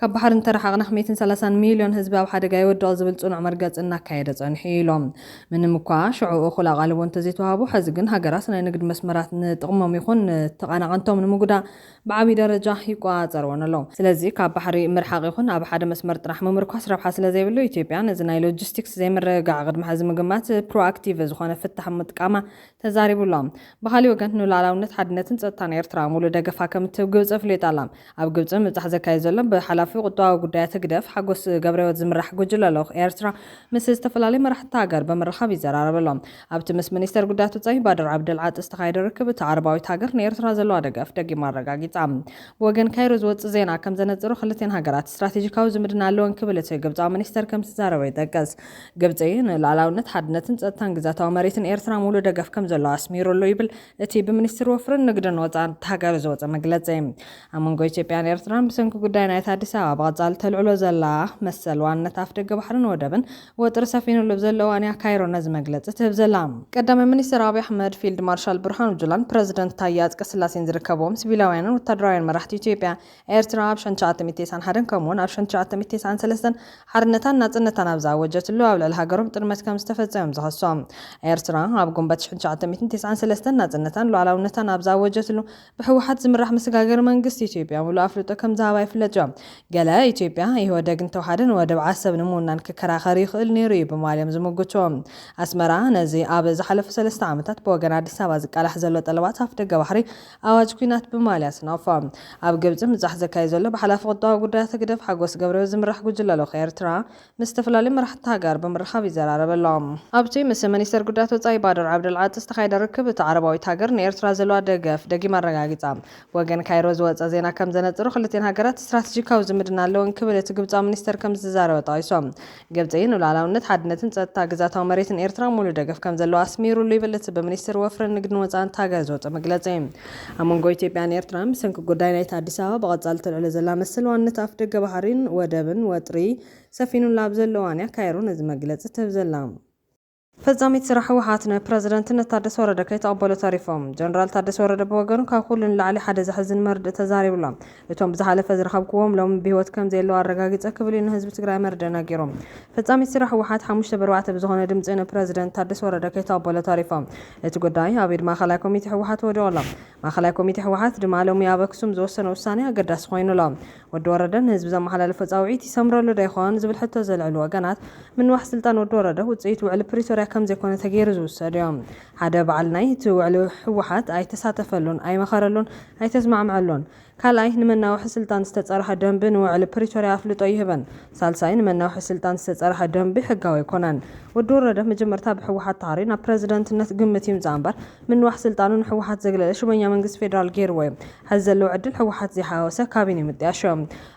ካብ ባሕሪ እንተረሓቕና ሕሜትን ሰላሳን ሚልዮን ህዝቢ ኣብ ሓደጋ ይወድቕ ዝብል ጽኑዕ መርገጺ እናካየደ ጸኒሑ እዩ ኢሎም። ምንም'ኳ ሽዑ እኹል ኣቓልቦ እንተዘይተዋህቡ፣ ሕዚ ግን ሃገራት ናይ ንግድ መስመራት ንጥቕሞም ይኹን ንተቓናቐንቶም ንምጉዳእ ብዓብይ ደረጃ ይቆጻጸርወን ኣለዉ። ስለዚ ካብ ባሕሪ ምርሓቕ ይኹን ኣብ ሓደ መስመር ጥራሕ ምምርኳስ ረብሓ ስለዘይብሉ፣ ኢትዮጵያ ነዚ ናይ ሎጂስቲክስ ዘይምርግጋዕ ቅድሚ ሕዚ ምግማት ፕሮኣክቲቭ ዝኾነ ፍታሕ ምጥቃማ ተዛሪቡ ኣሎ። ብኻሊእ ወገን ንሉኣላውነት፣ ሓድነትን ጸጥታን ኤርትራ ሙሉእ ደገፋ ከምትህብ ግብጺ ኣፍሊጣ ኣላ። ኣብ ግብጺ ምብጻሕ ዘካይድ ዘሎ ብሓላፊ ቁጠባዊ ጉዳያት ህግደፍ ሓጎስ ገብረህይወት ዝምራሕ ጉጅለ ልኡኽ ኤርትራ ምስ ዝተፈላለዩ መራሕቲ እታ ሃገር ብምርኻብ ይዘራረብ ኣሎ። ኣብቲ ምስ ሚኒስተር ጉዳያት ወጻኢ ባድር ዓብደልዓጢ ዝተኻየደ ርክብ እታ ዓረባዊት ሃገር ንኤርትራ ዘለዋ ደገፍ ደጊማ ኣረጋጊጻ። ብወገን ካይሮ ዝወጽእ ዜና ከም ዘነጽሮ ክልቲኤን ሃገራት ስትራቴጂካዊ ዝምድና ኣለወን ክብል እቲ ግብጻዊ ሚኒስተር ከም ዝዛረበ ይጠቅስ። ግብጺ ንሉኣላውነት፣ ሓድነትን ጸጥታን ግዝኣታዊ መሬትን ኤርትራ ሙሉእ ደገፍ ከም ዘለዋ ኣስሚሩሉ ይብል እቲ ብምኒስትሪ ወፍርን ንግድን ወፃእን እታ ሃገር ዝወፀ መግለፂ፣ ኣብ መንጎ ኢትዮጵያን ኤርትራን ብሰንኪ ጉዳይ ናይታ ኣዲስ ኣበባ ብቐፃሊ ተልዕሎ ዘላ መሰል ዋንነት ኣፍደገ ባሕርን ወደብን ወጥሪ ሰፊኑሉ ኣብ ዘሎ እዋን እያ ካይሮ ነዚ መግለፂ ትህብ ዘላ። ቀዳማይ ሚኒስትር ኣብይ ኣሕመድ፣ ፊልድ ማርሻል ብርሃኑ ጁላን ፕረዚደንት ታዬ ኣፅቀስላሴን ዝርከብዎም ሲቪላውያንን ወታደራውያን መራሕቲ ኢትዮጵያ፣ ኤርትራ ኣብ ሸን ትሽዓተ ሚእቲ ቴስዓን ሓደን ከምኡውን ኣብ ሸን ትሽዓተ ሚእቲ ቴስዓን ሰለስተን ሓርነታን ናጽነታን ኣብ ዝኣወጀትሉ ኣብ ልዕሊ ሃገሮም ጥልመት ከም ዝተፈጸመ እዮም ዝኸሶም። ኤርትራ ኣብ ጉንበት ሸን ትሽዓተ ሚእትን ቴስዓን ሰለስተን ናጽነታን ሉዓላውነታን ኣብ ዝኣወጀትሉ ብህወሓት ዝምራሕ ምስጋገሪ መንግስቲ ኢትዮጵያ ምሉእ ኣፍልጦ ከም ዝሃባ ይፍለጥ እዩ። ገለ ኢትዮጵያ ኢህወደግ እንተውሓደ ንወደብ ዓሰብ ንምውናን ክከራኸር ይኽእል ነይሩ እዩ ብምባል እዮም ዝምጉቱ። ኣስመራ ነዚ ኣብ ዝሓለፉ ሰለስተ ዓመታት ብወገን ኣዲስ ኣበባ ዝቃላሕ ዘሎ ጠለባት ኣፍደገ ባሕሪ ኣዋጅ ኲናት ብማልያ ሰናውፋ ኣብ ግብጺ ምብጻሕ ዘካይድ ዘሎ ብሓላፊ ቁጠባዊ ጉዳያት ህግደፍ ሓጎስ ገብረህይወት ዝምራሕ ጉጅለ ልኡኽ ኤርትራ ምስ ዝተፈላለዩ መራሕቲ ሃገር ብምርኻብ ይዘራረብ ኣሎ። ኣብቲ ምስ ሚኒስተር ጉዳያት ወጻኢ ባድር ዓብደልዓጢ ዝተኻየደ ርክብ እታ ዓረባዊት ሃገር ንኤርትራ ዘለዋ ደገፍ ደጊማ ኣረጋጊጻ። ብወገን ካይሮ ዝወጸ ዜና ከም ዘነጽሮ ክልቲኤን ሃገራት ስትራተጂካዊ ዝምድና ኣለወን ክብል እቲ ግብጻዊ ሚኒስተር ከም ዝዛረበ ጠቒሱ። ግብጺ ንሉኣላውነት፣ ሓድነትን ጸጥታ ግዝኣታዊ መሬትን ኤርትራ ሙሉእ ደገፍ ከምዘለዋ ኣስሚሩሉ ይብል እቲ ብሚኒስትሪ ወፍርን ንግድን ወጻእን እታ ሃገር ዝወጸ መግለጺ። ኣብ መንጎ ኢትዮጵያን ኤርትራን ብሰንኪ ጉዳይ ናይቲ ኣዲስ ኣበባ ብቐጻሊ ተልዕሎ ዘላ መሰል ዋንነት ኣፍደገ ባሕሪን ወደብን ወጥሪ ሰፊኑላ ኣብ ዘሎ እዋን'ያ ካይሮ ነዚ መግለጺ ትህብ ዘላ። ፈጻሚት ስራሕ ህወሓት ንፕረዚደንትነት ታደሰ ወረደ ከይተቐበሉ ተሪፎም። ጀነራል ታደሰ ወረደ ብወገኑ ካብ ኩሉ ንላዕሊ ሓደ ዘሕዝን መርድእ ተዛሪቡ'ሎ። እቶም ብዝሓለፈ ዝረኸብኩዎም ሎሚ ብህይወት ከምዘየለዉ ኣረጋጊጸ ክብል እዩ ንህዝቢ ትግራይ መርድእ ነጊሩ። ፈጻሚት ስራሕ ህወሓት ሓሙሽተ ብ ኣርባዕተ ብዝኾነ ድምጺ ንፕረዚደንት ታደሰ ወረደ ከይተቐበሉ ተሪፎም። እቲ ጉዳይ ኣብ ኢድ ማእኸላይ ኮሚቴ ህወሓት ወዲቑ'ሎ። ማእኸላይ ኮሚቴ ህወሓት ድማ ሎሚ ኣብ ኣክሱም ዝወሰኖ ውሳኔ ኣገዳሲ ኮይኑ ኣሎ። ወዲ ወረደ ንህዝቢ ዘመሓላለፎ ፃውዒት ይሰምረሉ ዶ ይኾን ዝብል ሕቶ ዘልዕሉ ወገናት፣ ምንዋሕ ስልጣን ወዲ ወረደ ውፅኢት ውዕሊ ፕሪቶርያ ከምዘይኮነ ተገይሩ ዝውሰድ ዩ። ሓደ በዓል ናይ እቲ ውዕሊ ህወሓት ኣይተሳተፈሉን፣ ኣይመኸረሉን፣ ኣይተስማዕመዐሉን። ካልኣይ፣ ንመናውሒ ስልጣን ዝተጸርሐ ደንቢ ንውዕሊ ፕሪቶርያ ኣፍልጦ ይህበን። ሳልሳይ፣ ንመናውሒ ስልጣን ዝተጸርሐ ደንቢ ሕጋዊ ኣይኮነን። ወዲ ወረደ መጀመርታ ብሕወሓት ታህሪ ናብ ፕረዚደንትነት ግምት ይምጻእ እምበር፣ ምንዋሕ ስልጣኑ ንሕወሓት ዘግለለ ሽመኛ መንግስቲ ፌደራል ገይርዎ እዩ። ሐዚ ዘለዎ ዕድል ሕወሓት ዘይሓዋወሰ ካቢኔ ምጥያሽ እዩ።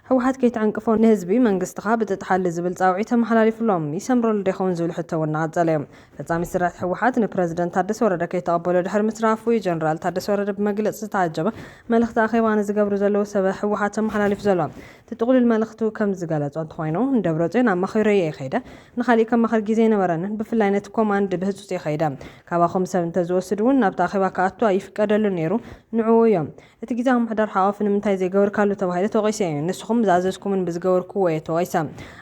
ሕወሓት ከይትዕንቅፎ ንህዝቢ መንግስትኻ ብጥጥሓሊ ዝብል ጻውዒት ተመሓላሊፉ ኣሎ። ይሰምረሉዶ ይኸውን ዝብል ሕቶ እውን እናቐጸለ እዩ። ፈጻሚት ስርዕት ህወሓት ንፕረዚደንት ታደሰ ወረደ ከይተቐበሎ ድሕሪ ምትራፉ እዩ ጀነራል ታደሰ ወረደ ብመግለጺ ዝተዓጀበ መልኽቲ ኣኼባ ንዝገብሩ ዘለዉ ሰበ ህወሓት ኣመሓላሊፉ ዘሎ። እቲ ጥቕሉል መልኽቱ ከምዝገለጾ እንተኾይኑ ንደብረጽዮን ኣማኺሮ እየ ከይደ፣ ንኻሊእ ከማኽር ግዜ ኣይነበረንን፣ ብፍላይ ነቲ ኮማንድ ብህጹጽ እየ ከይደ፣ ካባኹም ሰብ እንተዝወስድ እውን ናብቲ ኣኼባ ክኣቱ ኣይፍቀደሉን ነይሩ፣ ንዕኡ እዮም። እቲ ግዝያዊ ምምሕዳር ሓቋፊ ንምንታይ ዘይገበርካሉ ተባሂለ ተወቒሰ እየ። ንስኹም ብዝኣዘዝኩምን ብዝገበርኩዎ እየ ተወቒሰ።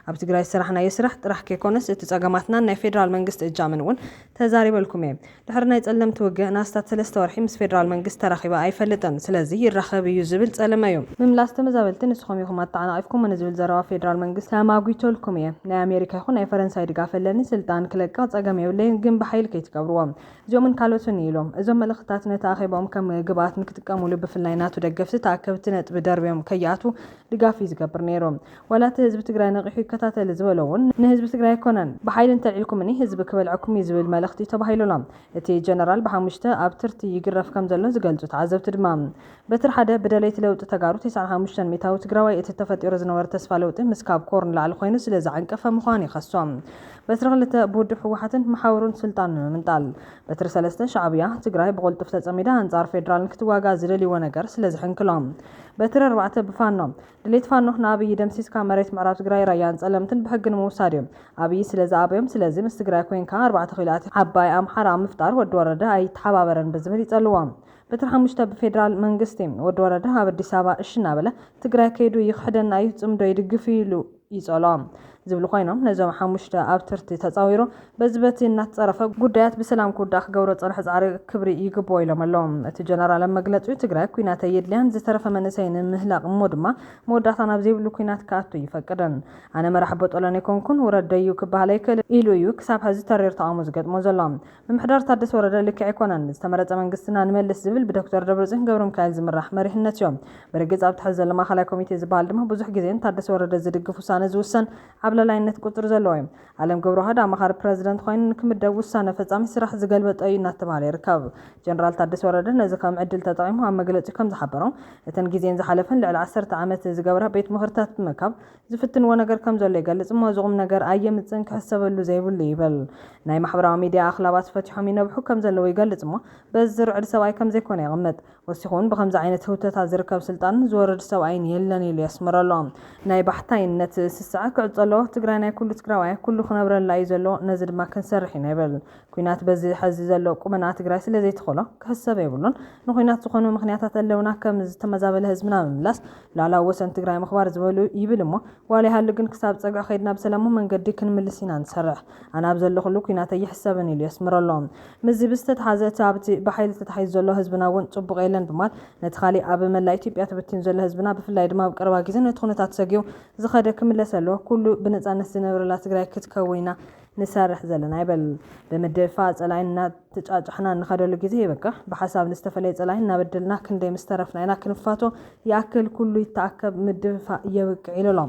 ኣብ ትግራይ ዝሰራሕናዮ ስራሕ ጥራሕ ከይኮነስ እቲ ፀገማትናን ናይ ፌዴራል መንግስቲ እጃምን እውን ተዛሪበልኩም እየ። ድሕሪ ናይ ፀለምቲ ውግእ ንኣስታት ሰለስተ ወርሒ ምስ ፌዴራል መንግስቲ ተራኺበ ኣይፈልጥን። ስለዚ ይራኸብ እዩ ዝብል ፀለመ እዩ። ምምላስ ተመዛበልቲ ንስኹም ኢኹም ኣተዓናቒፍኩሞ ንዝብል ዘረባ ፌዴራል መንግስቲ ተማጒተልኩም እየ። ናይ ኣሜሪካ ይኹን ናይ ፈረንሳይ ድጋፍ ኣለኒ። ስልጣን ክለቅቕ ፀገም የብለይን ግን ብሓይሊ ከይትገብርዎ። እዚኦምን ካልኦትን እዩ ኢሎም። እዞም መልእኽትታት ነቲ ኣኼባኦም ከም ግብኣት ንክጥቀሙሉ ብፍላይ ናቱ ደገፍቲ ተኣከብቲ ነጥቢ ደርብዮም ከይኣትዉ ድጋፍ እዩ ዝገብር ነይሩ። ዋላ እቲ ህዝቢ ትግራይ ነቒሑ ይከታተል ዝበሎ እውን ንህዝቢ ትግራይ ኣይኮነን። ብሓይሊ እንተልዒልኩምኒ ህዝቢ ክበልዐኩም እዩ ዝብል መልእኽቲ እዩ ተባሂሉ ኣሎ። እቲ ጀነራል ብሓሙሽተ ኣብ ትርቲ ይግረፍ ከም ዘሎ ዝገልፁ ተዓዘብቲ ድማ በትሪ ሓደ ብደለይቲ ለውጢ ተጋሩ ተስዓን ሓሙሽተን ሚእታዊ ትግራዋይ እቲ ተፈጢሩ ዝነበረ ተስፋ ለውጢ ምስ ካብ ኮር ንላዕሊ ኮይኑ ስለ ዝዓንቀፈ ምዃኑ ይኸሶም። በትሪ ክልተ ብውድብ ህወሓትን መሓውሩን ስልጣን ንምምንጣል። በትሪ ሰለስተ ሻዕብያ፣ ትግራይ ብቕልጡፍ ተፀሚዳ ኣንፃር ፌዴራል ንክትዋጋእ ዝደልይዎ ነገር ስለ ዝሕንክሎም። በትሪ ኣርባዕተ ብፋኖ። ድሌት ፋኖ ንኣብይ ደምሲስካ መሬት ምዕራብ ትግራይ ራያን ፀለምትን ብሕጊ ንምውሳድ እዩ። ኣብይ ስለ ዝኣበዮም ስለዚ ምስ ትግራይ ኮይንካ ኣርባዕተ ኪሎ ኣቲ ዓባይ ኣምሓራ ኣብ ምፍጣር ወዲ ወረደ ኣይተሓባበረን ብዝብል ይፀልዎም። በትሪ ሓሙሽተ ብፌደራል መንግስቲ። ወዲ ወረደ ኣብ ኣዲስ ኣበባ እሺ እናበለ ትግራይ ከይዱ ይኽሕደና እዩ ፅምዶ ይድግፍ እዩ ኢሉ ይፀልኦ ዝብሉ ኮይኖም ነዞም ሓሙሽተ ኣብ ትርቲ ተፃዊሩ በዚ በቲ እናተፀረፈ ጉዳያት ብሰላም ክውዳእ ክገብሮ ዝፀንሐ ፃዕሪ ክብሪ ይግብኦ ኢሎም ኣለው እቲ ጀነራል ኣብ መግለፂኡ ትግራይ ኩናት ኣየድልያን ዝተረፈ መንእሰይ ንምህላቅ እሞ ድማ መወዳእታ ናብ ዘይብሉ ኩናት ክኣቱ ኣይፈቅድን ኣነ መራሕ ቦጦሎኒ ኣይኮንኩን ውረድ ደዩ ክበሃል ኣይክእልን ኢሉ እዩ ክሳብ ሐዚ ተሪር ተቃውሞ ዝገጥሞ ዘሎ ምምሕዳር ታደሰ ወረደ ልክዕ ኣይኮነን። ዝተመረፀ መንግስትና ንመልስ ዝብል ብዶክተር ደብረፅዮን ገብረሚካኤል ዝምራሕ መሪሕነት እዩ። ብርግፅ ኣብዚ ሕዚ ዘሎ ማእኸላይ ኮሚቴ ዝበሃል ድማ ብዙሕ ግዜ ንታደሰ ወረደ ዝድግፍ ውሳነ ዝውሰን ዓብላላይነት ቁፅሪ ዘለዎ እዩ። ኣለም ገብረዋህድ ኣማኻሪ ፕረዚደንት ኾይኑ ንክምደብ ውሳነ ፈፃሚ ስራሕ ዝገልበጠ እዩ እናተብሃለ ይርከብ። ጀነራል ታደሰ ወረደ ነዚ ከም ዕድል ተጠቒሙ ኣብ መግለፂኡ ከምዝሓበሮ እተን ግዜን ዝሓለፈን ልዕሊ ዓሰርተ ዓመት ዝገብራ ቤት ምኽርታት ብምእካብ ዝፍትንዎ ነገር ከም ዘሎ ይገልጽ እሞ እዚ ቁምነገር ኣየምጽእን ክሕሰበሉ ዘይብሉ እዩ ይብል። ናይ ማሕበራዊ ሚድያ ኣኽላባት ፈቲሖም ይነብሑ ከም ዘለዉ ይገልጽ እሞ በዚ ዝርዕድ ሰብኣይ ከም ዘይኮነ የቕምጥ። ወሲኹ'ውን ብኸምዚ ዓይነት ህውተታ ዝርከብ ስልጣን ዝወርድ ሰብኣይን የለን ኢሉ የስምረሉ። ናይ ባሕታይነት ስስዐ ክዕጾ ኣለዎ፣ ትግራይ ናይ ኩሉ ትግራዋይ እያ፣ ኩሉ ክነብረላ እዩ ዘለዎ፣ ነዚ ድማ ክንሰርሕ ኢና ይብል። ኲናት በዚ ሐዚ ዘሎ ቁመንኣ ትግራይ ስለ ዘይትኽእሎ ክሕሰብ የብሉን። ንዂናት ዝኾኑ ምኽንያታት ኣለውና፣ ከም ዝተመዛበለ ህዝብና ምምላስ፣ ላላ ወሰን ትግራይ ምኽባር ዝበሉ ይብል እሞ ዋላ ይሃሉ ግን ክሳብ ፀግዒ ከይድና ብሰላማዊ መንገዲ ክንምልስ ኢና ንሰርሕ ኣነ ኣብ ዘለኹሉ ኩናት ኣይሕሰብን ኢሉ የስምረሉ። ምስዚ ብዝተትሓዘ እቲ ኣብቲ ብሓይሊ ተታሒዙ ዘሎ ህዝብና እውን ፅቡቕ የለን ብምባል ነቲ ካሊእ ኣብ መላእ ኢትዮጵያ ተበቲኑ ዘሎ ህዝብና ብፍላይ ድማ ኣብ ቀረባ ግዜ ነቲ ኩነታት ሰጊኡ ዝኸደ ክምለስ ኣለዎ ኩሉ ብነፃነት ዝነብረላ ትግራይ ክትከውን ኢና ንሰርሕ ዘለና ይብል። ብምድፍፋእ ፀላኢ ተጫጭሕና እንኸደሉ ግዜ ይበቅዕ ብሓሳብ ንዝተፈለየ ፀላኢ እናበደልና ክንደይ ምስ ተረፍና ኢና ክንፋቶ ይኣክል ኩሉ ይተኣከብ ምድፍፋእ የብቅዕ ኢሉ ኣሎ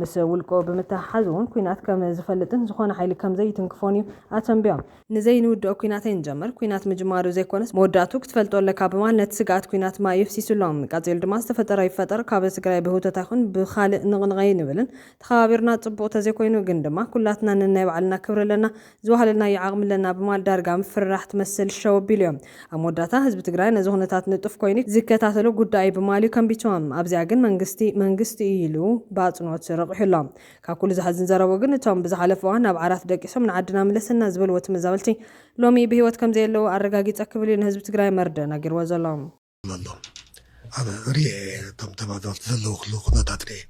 ምስ ውልቁ ብምትሕሓዝ እውን ኩናት ከም ዝፈልጥን ዝኾነ ሓይሊ ከም ዘይትንክፎን እዩ ኣተንቢዮም። ንዘይንውድኦ ኩናት ኣይንጀምር ኩናት ምጅማሩ ዘይኮነስ መወዳእትኡ ክትፈልጦ ኣለካ ብማል ነቲ ስግኣት ኩናት ማይ የፍሲሱ ኣሎ ቀፂሉ ድማ ዝተፈጠረ ይፈጠር ካብ ትግራይ ብህውተት ኣይኹን ብኻልእ ንቕንቕ ኣይንብልን ተኸባቢርና ፅቡቕ ተዘይኮይኑ ግን ድማ ኩላትና ነናይ ባዕልና ክብሪ ኣለና ዝዋሃለልናዮ ዓቕሚ ኣለና ብማል ዳርጋ ምፍርራሕ ትመስል ሸው ኣቢሉ'ዮም። ኣብ መወዳእታ ህዝቢ ትግራይ ነዚ ኩነታት ንጡፍ ኮይኑ ዝከታተሎ ጉዳይ'ዩ ብማል'ዩ ከንቢቱዎም። ኣብዚኣ ግን መንግስቲ መንግስቲ'ዩ ኢሉ ብኣጽንኦት ረቒሑ ኣሎ። ካብ ኩሉ ዘሕዝን ዘረብኡ ግን እቶም ብዝሓለፈ እዋን ናብ ዓራት ደቂሶም ንዓድና ምለሰና ዝበልዎ ተመዛበልቲ ሎሚ ብህይወት ከምዘየለዉ ኣረጋጊጸ ክብል'ዩ ንህዝቢ ትግራይ መርድእ ነጊርዎ ዘሎ። ኣሎ
ኣብ ሪኤ እቶም ተባዛወርቲ ዘለዉ ክሉ ኩነታት ሪኤ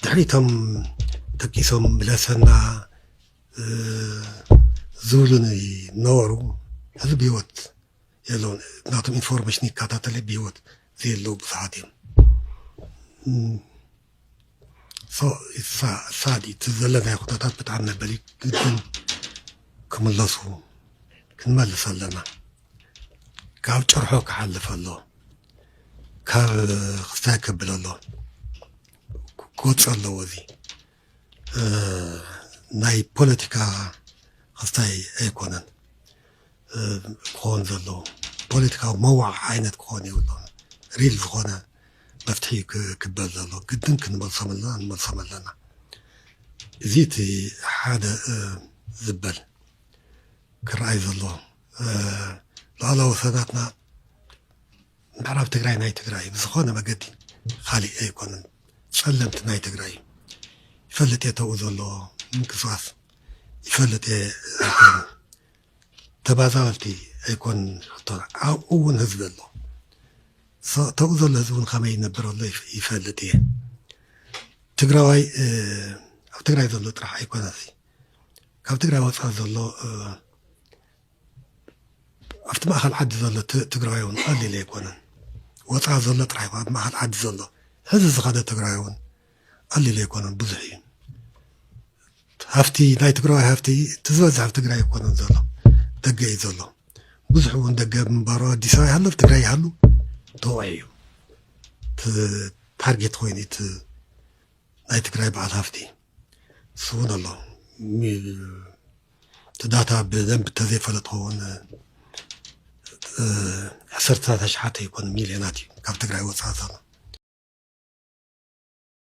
ድሕሪቶም ተኪሶም ብለሰና ዝብሉኒ ነበሩ እዚ ብሂወት የለውን ናቶም ኢንፎርሜሽን ይከታተለ ብሂወት ዘየለዉ ብዙሓት እዮም ሳዲ እቲ ዘለናዮ ኩነታት ብጣዕሚ መበሊ እዩ ግድን ክምለሱ ክንመልስ ኣለና ካብ ጭርሖ ክሓልፍ ኣለዎ ካብ ክስታይ ከብል ኣለዎ ክወፅእ ኣለዎ እዚ ናይ ፖለቲካ ክስታይ ኣይኮነን ክኸውን ዘለዎ ፖለቲካዊ መዋዕ ዓይነት ክኾን የብሉን ሪል ዝኾነ መፍትሒ እዩ ክበል ዘሎ ግድን ክንመልሶም ኣለና ንመልሶም ኣለና እዚ እቲ ሓደ ዝበል ክረኣይ ዘሎ ሉዓላዊ ወሰናትና ምዕራብ ትግራይ ናይ ትግራይ ብዝኾነ መገዲ ካሊእ ኣይኮነን ጸለምቲ ናይ ትግራይ እዩ ይፈልጥ እየ ተብኡ ዘሎ ምንቅስቃስ ይፈልጥ እየ ተባዛበልቲ ኣይኮን ሕቶና ኣብኡ ውን ህዝቢ ኣሎ ተብኡ ዘሎ ህዝቢ ውን ከመይ ይነብር ኣሎ ይፈልጥ እየ ትግራዋይ ኣብ ትግራይ ዘሎ ጥራሕ ኣይኮነሲ ካብ ትግራይ ወፃኢ ዘሎ ኣብቲ ማእኸል ዓዲ ዘሎ ትግራዋይ ውን ቀሊል ኣይኮነን ወፃኢ ዘሎ ጥራሕ ኣብ ማእኸል ዓዲ ዘሎ ሕዚ ዝኸደ ትግራዋይ ውን ቀሊል ኣይኮነን ብዙሕ እዩ ሃፍቲ ናይ ትግራዋይ ሃፍቲ እቲ ዝበዝሕ ኣብ ትግራይ ኣይኮነን ዘሎ ደገ እዩ ዘሎ ብዙሕ እውን ደገ ምንባሩ ኣዲስ ኣበባ ይሃሉ ኣብ ትግራይ ይሃሉ ተወዒ እዩ ታርጌት ኮይኑ እቲ ናይ ትግራይ በዓል ሃፍቲ እሱ እውን ኣሎ እቲ ዳታ ብደንብ ተዘይፈለጥ ኸውን ዓሰርተታት ኣሽሓት ኣይኮነ ሚልዮናት እዩ ካብ ትግራይ ወፃኢ ዘሎ